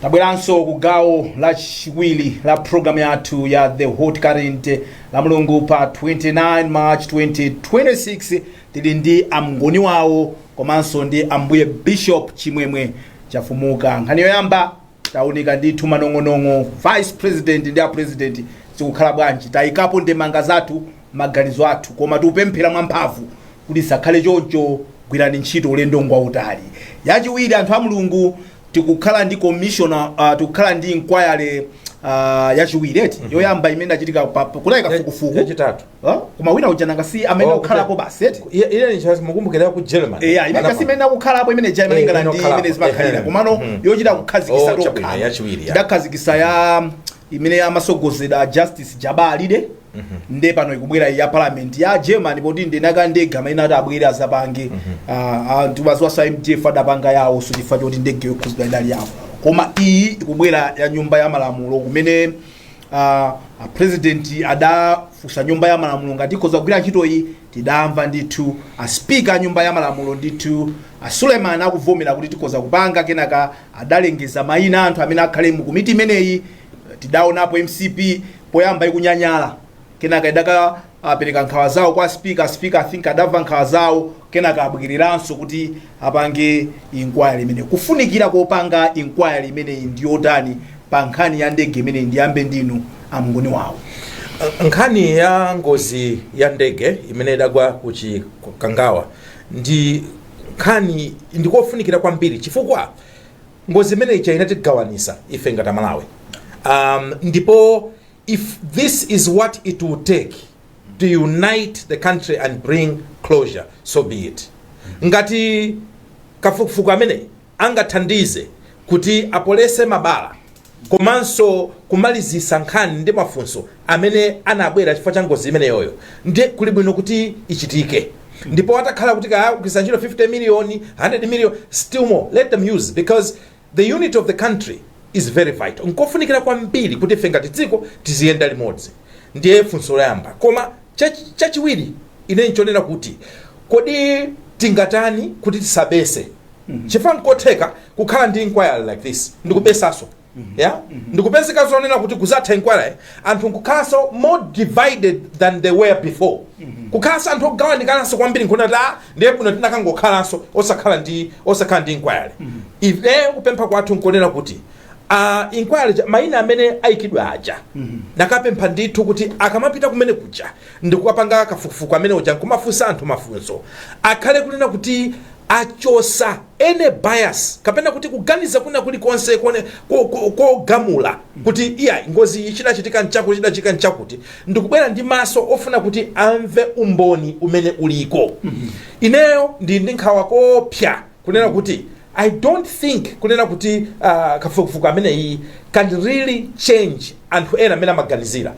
Tabweranso ku gawo lachiwiri la program yathu ya The Hot Current lamulungu pa 29 March 2026 tili ndi aMngoni wawo komanso ndi ambuye Bishop Chimwemwe Chafumuka. Nkhani yoyamba taunika ndithu manong'onong'o vice president ndi a president zikukhala bwanji, tayikapo ndemanga zathu maganizo athu koma tikupemphera mwamphamvu kuti zisakhale choncho gwirani ntchito ulendo ngwautali yachiwiri anthu a mulungu tikukhala ndi commissioner uh, tikukhala ndi inquiry uh, yachiwiri eti yoyamba imene inachitika pa- pa- kunayi kafukufuku yachitatu Huh? koma wina uja nanga si amene Oh, kukhalapo okay. basi eti Iye- iye chance mukumbukira ku german eya imene Panama. kasi imene akukhalapo imene ja Eh, malingana ndi okhalapo. imene zimakhalira Ehe. komano Mhm. yochita kukhazikitsa Oh, chabwino, tokha yachiwiri, ya. tidakhazikitsa ya imene amatsogolera a justice Jabbar Alide nde pano ikubwera iyi ya parliament ya germany poti ndi eniake ndege amene ati abwere azapange Ah, anthu baziwasa mdf adapanga yawo so chifukwa choti ndege yokhudzidwa idali yawo koma iyi ikubwera ya nyumba ya malamulo kumene ah, a president adafunsa nyumba ya malamulo ngati ikhoza kugwira ntchito iyi tidamva ndithu a speaker a nyumba ya malamulo ndithu a suleiman akuvomera kuti tikhoza kupanga kenaka adalengeza maina a anthu amene akhale mu komiti imeneyi. Tidaonapo mcp poyamba ikunyanyala kenaka idakapereka nkhawa zawo kwa speaker. Speaker I think adamva nkhawa zawo kenaka abwereranso kuti apange inquiry imeneyi. Kufunikira kopanga inquiry imeneyi ndi yotani pa nkhani ya ndege imeneyi? Ndiyambe ndinu aMngoni wawo. Nkhani ya ngozi ya ndege imene idagwa ku Chikangawa ndi nkhani ndi kofunikira kwambiri chifukwa ngozi imeneyi inatigawanisa ife ngati amalawi um, ndipo if this is what it will take to unite the country and bring closure so be it ngati kafukufuku ameneyi angathandize kuti apolese mabala komanso kumalizisa nkhani ndi mafunso amene anabwera chifukwa cha ngozi imeneyoyo ndiye kuli bwino kuti ichitike ndipo atakhala kuti kaya kugwiritsa ntchito 50 million 100 million still more let them use because the unity of the country is very vital nkofunikira kwambiri kuti ife ngati dziko tiziyenda limodzi ndiye funso loyamba koma chachi- chachiwiri ine nchonena kuti kodi tingatani kuti tisabetse chifukwa nkotheka kukhala ndi inquiry like this ndikubetsanso ya ndikupezeka zonena kuti kuzatha inquiry anthu nkukhalanso more divided than they were before kukhalanso anthu ogawanikananso kwambiri nkuona kuti ah ndiye bola tinakangokhalanso osakhala ndi osakhala ndi inquiry ife kupempha kwathu nkonena kuti uh, inquiry ja- maina amene aikidwa aja nakapempha ndithu kuti akamapita kumene kuja ndikukapanga kafukufuku amene uja nkumafunsa anthu mafunso akhale kunena kuti achosa any bias kapena kuti kuganiza kwina kulikonse kone- ko- ko- kogamula kuti iyayi ngozi iyi chidachitika nchakuti chidachitika nchakuti ndikubwera ndi maso ofuna kuti amve umboni umene uliko ineyo ndili ndi nkhawa koopsa kunena kuti i dont think kunena kuti uh, kafukufuku ameneyi can really change anthu ena mmene amaganizira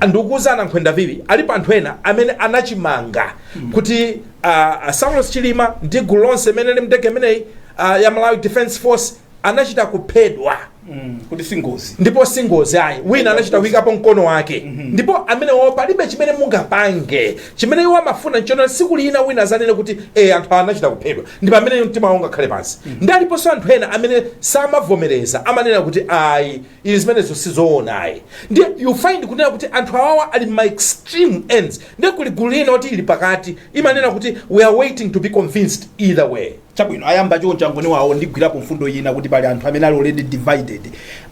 ndikuuzani a Nankhwenda Phiri alipo anthu ena amene anachimanga kuti uh, saulos chilima ndi gulu lonse imene ili mndege imeneyi uh, ya malawi defense force anachita kuphedwa Mm, kuti si ngozi ndipo si ngozi ayi wina anachita kuyikapo mkono wake ndipo amenewo palibe chimene mungapange chimene iwo amafuna nchonena siku lina wina adzanene kuti e anthu awa anachita kuphedwa ndi pamene mtima wawo ungakhale pansi ndi aliponso anthu ena amene samavomereza amanena kuti ayi izi zimenezo sizoona ayi ndi you find kunena kuti anthu awawa ali mma extreme ends ndiye kuli gulu lina kuti ili pakati imanena kuti we are waiting to be convinced either way Chabwino, ayamba choncho a Ngoni awo. Ndigwirapo mfundo ina kuti pali anthu amene ali already divided.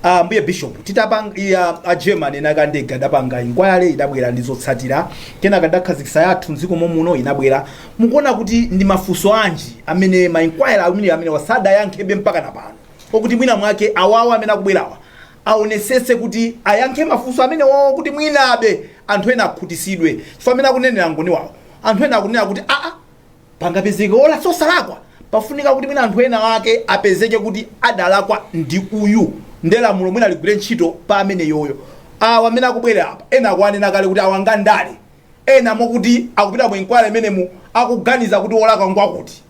A Ambuye Bishop, titapang, ia, a German ena ake a ndege adapanga inquiry, idabwera ndi zotsatira, kenaka tidakhazikitsa yathu m'dziko momuno, inabwera. Mukuona kuti ndi mafunso anji amene ma inquiry awiri amenewa sadayankhebe mpakana pano okuti mwina mwake awawa amene akubwerawa aonetsetse kuti ayankhe mafunso amenewowo kuti mwinabe anthu ena akhutisidwe? Chifukwa mmene akunenera a Ngoni awo, anthu ena akunena kuti aa, pangapezeke olakwa osalakwa pafunika kuti mwina anthu ena ake apezeke kuti adalakwa ndi uyu nde lamulo mwina ligwire ntchito pa ameneyoyo awa amene akubwera apa ena akunena kale kuti awa ngandale ena mokuti akupita mu inquiry imenemu akuganiza kuti wolakwa ngwakuti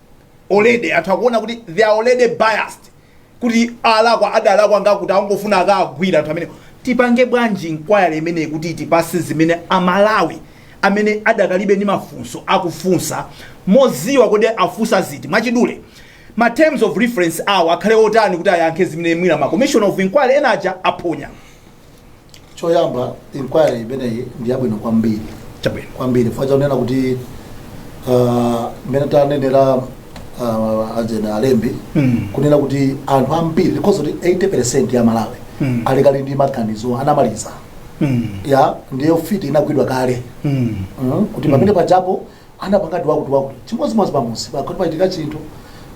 already anthu akuona kuti they are already biased kuti olakwa adalakwa ngakuti angofuna akagwire anthu amene tipange bwanji inquiry imeneyi kuti itipase zimene amalawi amene adakalibe ndi mafunso akufunsa moziwa kodi afunsa ziti mwachidule ma terms of reference awo akhale otani kuti ayankhe zimene mwina ma commission of inquiry ena aja aphonya choyamba inquiry imeneyi ndi yabwino kwambiri chabwino kwambiri chifukwa chonena kuti ah, mmene tanenera ah, ajena alembi Mm. kunena kuti anthu ambiri because kuti 80 percent ya amalawi Mm. alikali ndi maganizo anamaliza Mm. ya ndiye mfiti inagwidwa kale Mm. Mm, kuti pamene pajapo anapangadi wakuti wakuti chimodzimodzi pamudzi pakati pachitika chinthu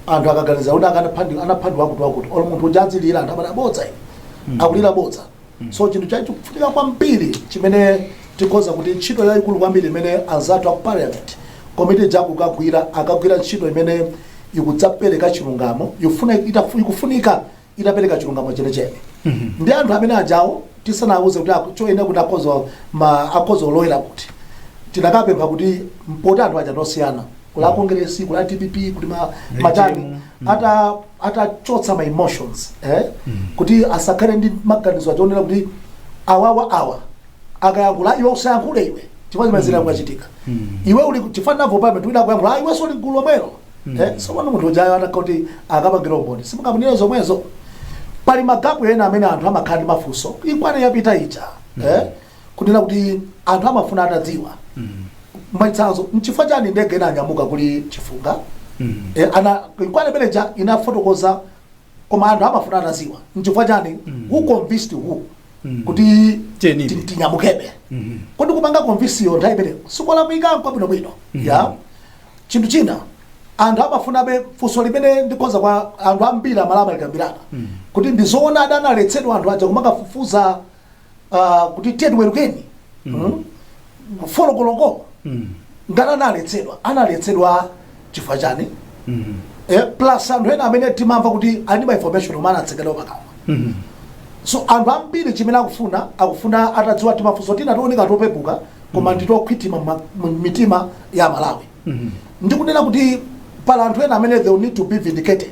anthu akaganiza kuti akanapha ndi anapha ndi wakuti wakuti olo munthu uja adzilira anthu amati abodza iwe akulira bodza so chinthu chofunika kwambiri chimene tikhoza kuti ntchito yayikulu kwambiri imene anzathu aku parliament komiti jaku akagwira akagwira ntchito imene ikadzapereka chilungamo yofuna itafu- ikufunika itapereka chilungamo chenechene ndi anthu amene ajawo tisanawuze kuti aku- choyenera kuti akhoza ma akhoza olowera kuti tinakapempha kuti poti anthu aja ngosiyana kuli akongeresi kuli a dpp kuti ma- matani ata atachotsa ma emotions eh? kuti asakhale ndi maganizo achiwonera kuti awawa awa akayankhula iwe usayankhule iwe chifukwa chimene zinakachitika iwe uli chifukwa navo pamene tiwina kuyankhula iwe suli gulu lomwelo mm. eh, so pano munthu ujayo atakha kuti akapangire umboni simukaunikire zomwezo pali magapu ena amene anthu amakhala ndi mafunso inquiry yapita ija mm. eh, kunena kuti anthu amafuna atadziwa mm. mwachitsanzo nchifukwa chani ndege inanyamuka kuli chifunga mm. eh, ana inquiry imene ija inafotokoza koma anthu amafuna atadziwa nchifukwa chani mm. who convinced who mm. kuti tinyamukebe mm -hmm. kodi kupanga convince yo nthawi imeneyo sikolakwika nkwabwino bwino mm -hmm. ya chinthu china anthu amafunabe funso limene ndikhoza kwa anthu ambiri amalawi alikambirana mm. kuti ndizoona adaletsedwa anthu aja kumakafufuza ah, kuti tiyeni tiwerukeni mm, folo koloko Mm. ngati analetsedwa analetsedwa chifukwa chani Mm. eh, plus anthu ena amene timamva kuti ali ma information omwe anatsekedwa pakamwa Mm. so anthu ambiri chimene akufuna akufuna atadziwa timafunso tina tooneka topepuka koma nditokhwitima mma- m'mitima ya amalawi Mm. ndikunena kuti pali anthu ena amene they will need to be vindicated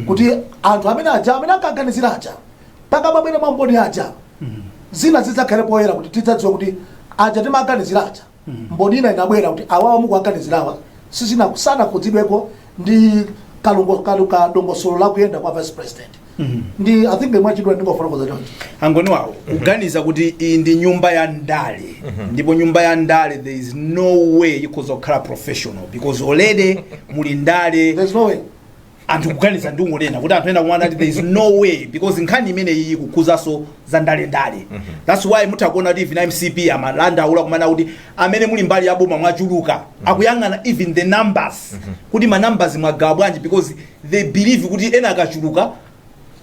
kuti anthu amene aja amene ankaganizira aja pakamabwera mamboni aja zina zidzakhale poyera kuti tidzadziwa kuti aja timaganizira aja mboni ina inabwera kuti awawa mukuwaganizirawa sizina sanakhudzidweko ndi kalongo kalu kadongosolo la kuyenda kwa vice president ndi i think mwachidule ndingofotokoza choncho maganizo awo kuganiza kuti iyi ndi nyumba ya ndale ndipo nyumba ya ndale there is no way ikhoza kukhala professional because already muli ndale there's no way anthu kuganiza ndi kungonena kuti anthu ena kumana ati there is no way because nkhani imene iyi ikukhuzanso za ndale ndale that's why mutha kuona kuti even mcp amadandaula kumana kuti amene muli mbali ya boma mwachuluka akuyang'ana even the numbers kuti ma numbers mwagawa bwanji because they believe kuti ena akachuluka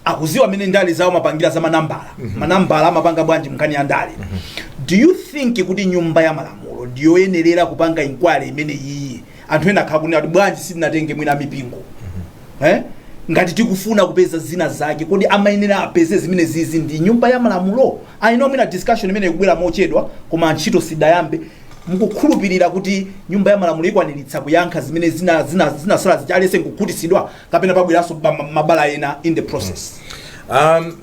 akuziwa mene ndale zao amapangira za manambala mm -hmm. manambala amapanga bwanji nkhani ya ndale mm -hmm. do you think kuti nyumba ya malamulo ndiyoyenerera kupanga inquiry imene iyi anthu ena akha kunena kuti bwanji sitinatenge mwina mipingo mm -hmm. eh? ngati tikufuna kupeza zina zake kodi amayenera apeze zimene zizi ndi nyumba ya malamulo i know mwina discussion imeneyi ikubwera mochedwa koma ntchito sidayambe mukukhulupirira kuti nyumba ya malamulo ikwaniritsa kuyankha zimene zina zina zinasala zichaliyense nkukhutisidwa kapena pabweranso ba- ma- mabala ena in the process um,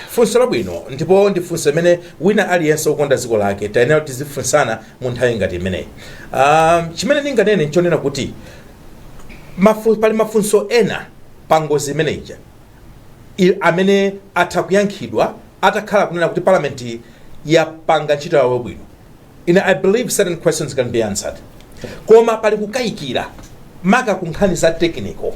funso labwino ndipo ndi funso limene wina aliyense wokonda dziko lake tiyenera tizifunsana mu nthawi ngati imeneyi um, chimene ndinganene nchonena kuti mafu, pali mafunso ena pa ngozi imene ija i- amene atha kuyankhidwa atakhala kunena kuti palamenti yapanga ntchito yawo bwino ine i believe certain questions can be answered koma pali kukayikira maka ku nkhani za tekiniko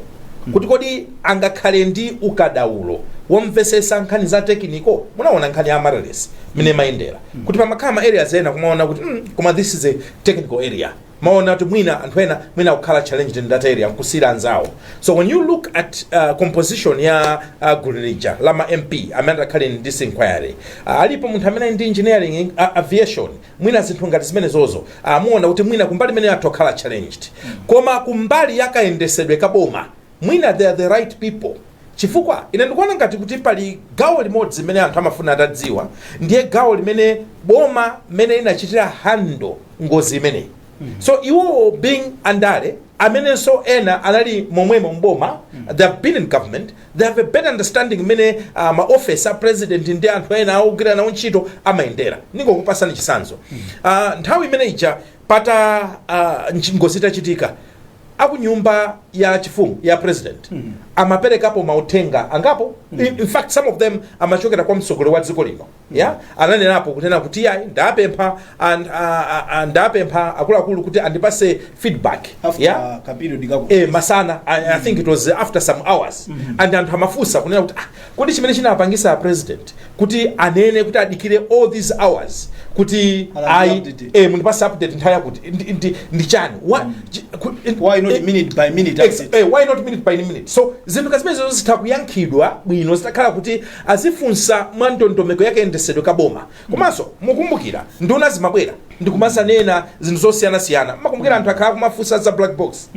kuti kodi angakhale ndi ukadaulo womvesesa nkhani za tekiniko munaona nkhani ya amaryllis mene imayendera kuti pamakhala ma areas ena kumaona kuti mm, koma this is a technical area maona kuti mwina anthu ena mwina akukhala challenged in that area nkusiyira anzawo so when you look at uh, composition ya uh, gulu lija la ma mp amene atakhale in this inquiry uh, alipo munthu amene ali ndi engineering in, uh, aviation mwina zinthu ngati zimenezozo muona kuti mwina kumbali imeneyo atha kukhala challenged koma kumbali yakayendesedwe kaboma Mwina they are the right people chifukwa ine ndikuona ngati kuti pali gawo limodzi limene anthu amafuna atadziwa, ndiye gawo limene boma mmene linachitira handle ngozi imeneyi. So iwowo being andale amenenso ena anali momwemo m'boma they have been in government they have a better understanding mmene uh, ma office a president ndi anthu ena ogwira nawo ntchito amayendera ndingokupasani chisanzo uh, nthawi imene ija pata uh, nchi- ngozi itachitika akunyumba ya chifumu kwa president mm -hmm. amaperekapo mauthenga angapo mm -hmm. in fact some of them amachokera kwa mtsogoleri wa dziko lino yeah? ananenapo kunena kuti yayi ndapempha and, uh, uh, uh, ndapempha akuluakulu kuti andipase feedback after yeah? ka period kake eh, masana I, I think it was after some hours and anthu amafunsa kunena kuti ah, Kodi chimene chinapangisa a president kuti anene kuti adikire all these hours kuti ayi ee mundipase update nthawi yakuti ndi ndi ndi chani wa chi ku Why not minute by minute Ex- update? eh, why not minute by minute so zinthu ngati zimenezo zitha kuyankhidwa bwino zitakhala kuti azifunsa mwa ndondomeko ya kayendesedwe ka boma Komanso mukumbukira nduna zimabwera ndikumazanena zinthu zosiyanasiyana mukumbukira anthu akhala kumafunsa za black box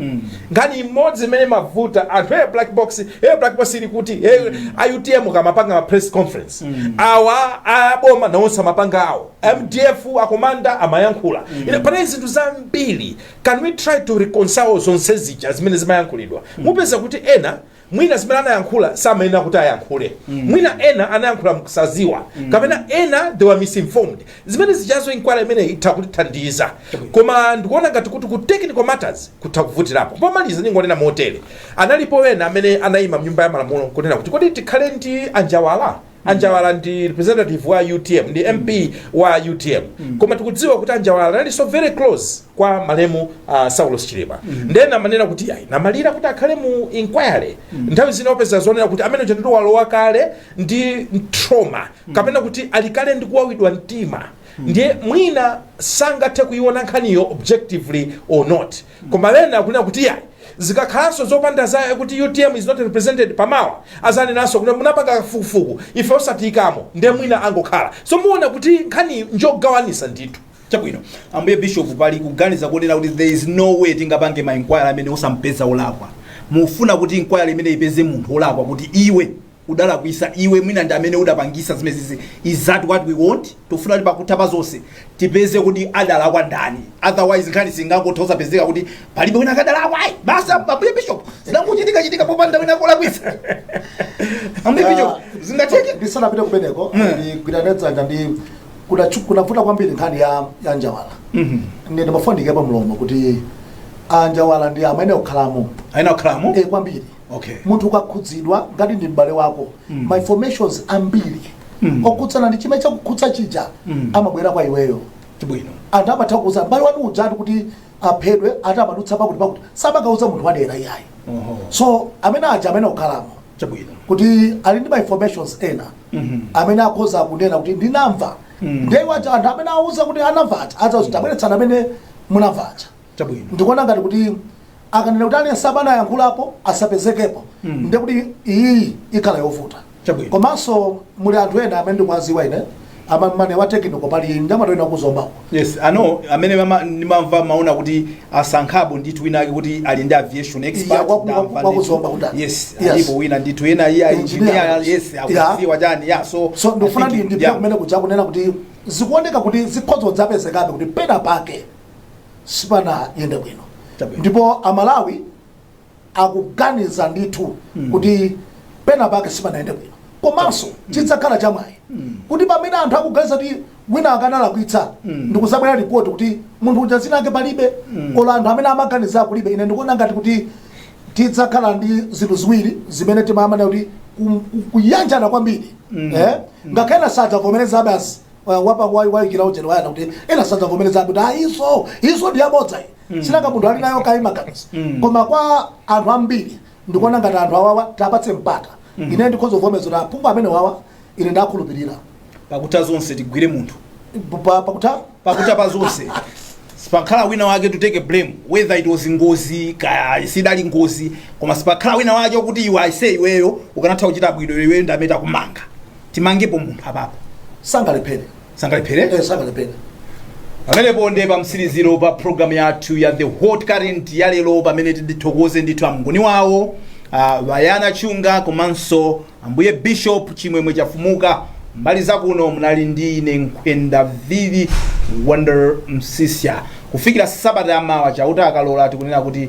nkhani imodzi imene imavuta anthu hey, black box hey, black box ili kuti hey, autm amapanga ma press conference awa aboma nawonse amapanga awo mdf akomanda amayankhula panali zinthu zambiri can we try to reconcile zonse zija zimene zimayankhulidwa mupeza kuti ena mwina zimene anayankhula samayenera kuti ayankhule mwina ena anayankhula mkusaziwa kapena ena they were misinformed zimene zijazo inquiry imeneyi itha kutithandiza koma ndikuona ngati kuti ku technical matters kutha kuvutirapo pomaliza ndingonena motere analipo ena amene anayima mnyumba ya malamulo kunena kuti kodi tikhale ndi anjawala anjawala ndi representative wa utm ndi mp wa utm koma tikudziwa kuti anjawala analinso very close kwa malemu uh, saulos chilima ndene amanena kuti ayi amalira kuti akhale mu inquiry nthawi zina opeza zonena kuti amene uja ndithu walowa kale ndi trauma kapena kuti ali kale ndi kuwawidwa mtima ndiye mwina sangathe kuiona nkhaniyo objectively or not Koma ena akunena kuti iyayi zikakhalanso zopanda za kuti utm is not represented pa mawa azanenanso kuti munapanga kafukufuku ife osatiyikamo nde mwina angokhala so muwona kuti nkhani njogawanisa ndithu chabwino ambuye bishop pali kuganiza kunena kuti there is no way tingapange ma inquiry amene osapeza olakwa mufuna kuti inquiry imene ipeze munthu olakwa kuti iwe udalakwisa iwe mwina ndi amene udapangisa zimenezi is that what we want tikufuna kuti pakutha pa zonse tipeze kuti adalakwa ndani otherwise nkhani singangotha nkupezeka kuti palibe wina akadalakwa ayi basi ambuye bishop zidangochitika chitika popanda wina olakwisa ambuye bishop zingatheke ndisanapite kumeneko Mm. ndigwirane dzanja ndi kudachu- kunavuta kwambiri nkhani ya a njawala Mhm. ndi ndimafuna ndikepo mlomo kuti anjawala ndi amene okhalamo aina kukhalamo Eh, kwambiri okay. munthu ukakhudzidwa ngati ndi m'bale wako mm. ma informations ambiri mm. okhudzana ndi chimene chakukhudza chija mm. amabwera kwa iweyo chabwino anthu amatha kukuuza m'bale wanu ujatu kuti aphedwe ati amadutsa pakuti pakuti samakauza munthu wadera iyayi uh -huh. so amene aja amene okhalamo chabwino kuti ali ndi ma informations ena mm -hmm. amene akhoza kunena kuti ndinamva mm. nde awaja anthu amene awauza kuti anamva aja adzati tabweretsani mm. amene munamva aja chabwino ndikuona ngati kuti akanena kuti aliyense amene ayankhulapo asapezekepo Mm. ndiye kuti iyi ikhala yovuta Chabwino. komanso muli anthu ena amene ndikuwaziwa ine amamuna wa technical pali mnyamata wina kuZombako yes ano amene mama- ndimamva maona kuti asankhapo ndithu wina ake kuti ali ndi aviation expert Yeah, waku- ndamva waku- ndithu. wakuzomba kuti ali. yes Yes. alipo wina ndithu ena iya Engineer. engineer yes Yeah. akuziwa chani ya so so I ndikufuna think- ndi ndipita yeah. kumene kuja kunena kuti zikuoneka kuti zikhoza kupezekabe kuti pena pake sipanayende bwino Chabwino. ndipo amalawi akuganiza ndithu kuti pena pake sipanayende bwino komanso chidzakhala chamwayi kuti pamene anthu akuganiza kuti wina akanalakwitsa ndikuzabwera ripoti kuti munthu uja zina ake palibe olo anthu amene amaganiza kulibe ine ndikuona ngati kuti tidzakhala ndi zinthu ziwiri zimene timamana kuti ku- ku- kuyanjana kwambiri eh? ngakhale sadzavomereza basi wapa wa wa ikira ujeni Bayana kuti ena sadza vomereza kuti ah izo izo ndi yabodza iyi sinanga munthu ali nayo kayi maganizo Mm. koma kwa anthu ambiri ndikuona ngati anthu awawa tiwapatse mpata ine ndikhoza kuvomereza kuti aphungu amenewawa ine ndakhulupirira pakutha zonse tigwire munthu Pa- pa- pakutha pakutha pa zonse sipakhala wina wake to take a blame whether it was ngozi kaya sidali ngozi koma sipakhala wina wake kuti iwe aise iweyo ukanatha kuchita bwino iweyo ndanenatu kumanga timangepo munthu apapo sangalephere sangalephere Eh, sangalephere pamenepo nde pa mtsiriziro pa programu yathu ya the hot current ya lero pamene tithokoze ndithu amngoni wawo ah, Bayana Chunga komanso ambuye bishop chimwemwe chafumuka mbali zakuno munali ndi ine nkhwenda vivi Wonder Msiska kufikira sabata yamawa chauta akalola tikunena kuti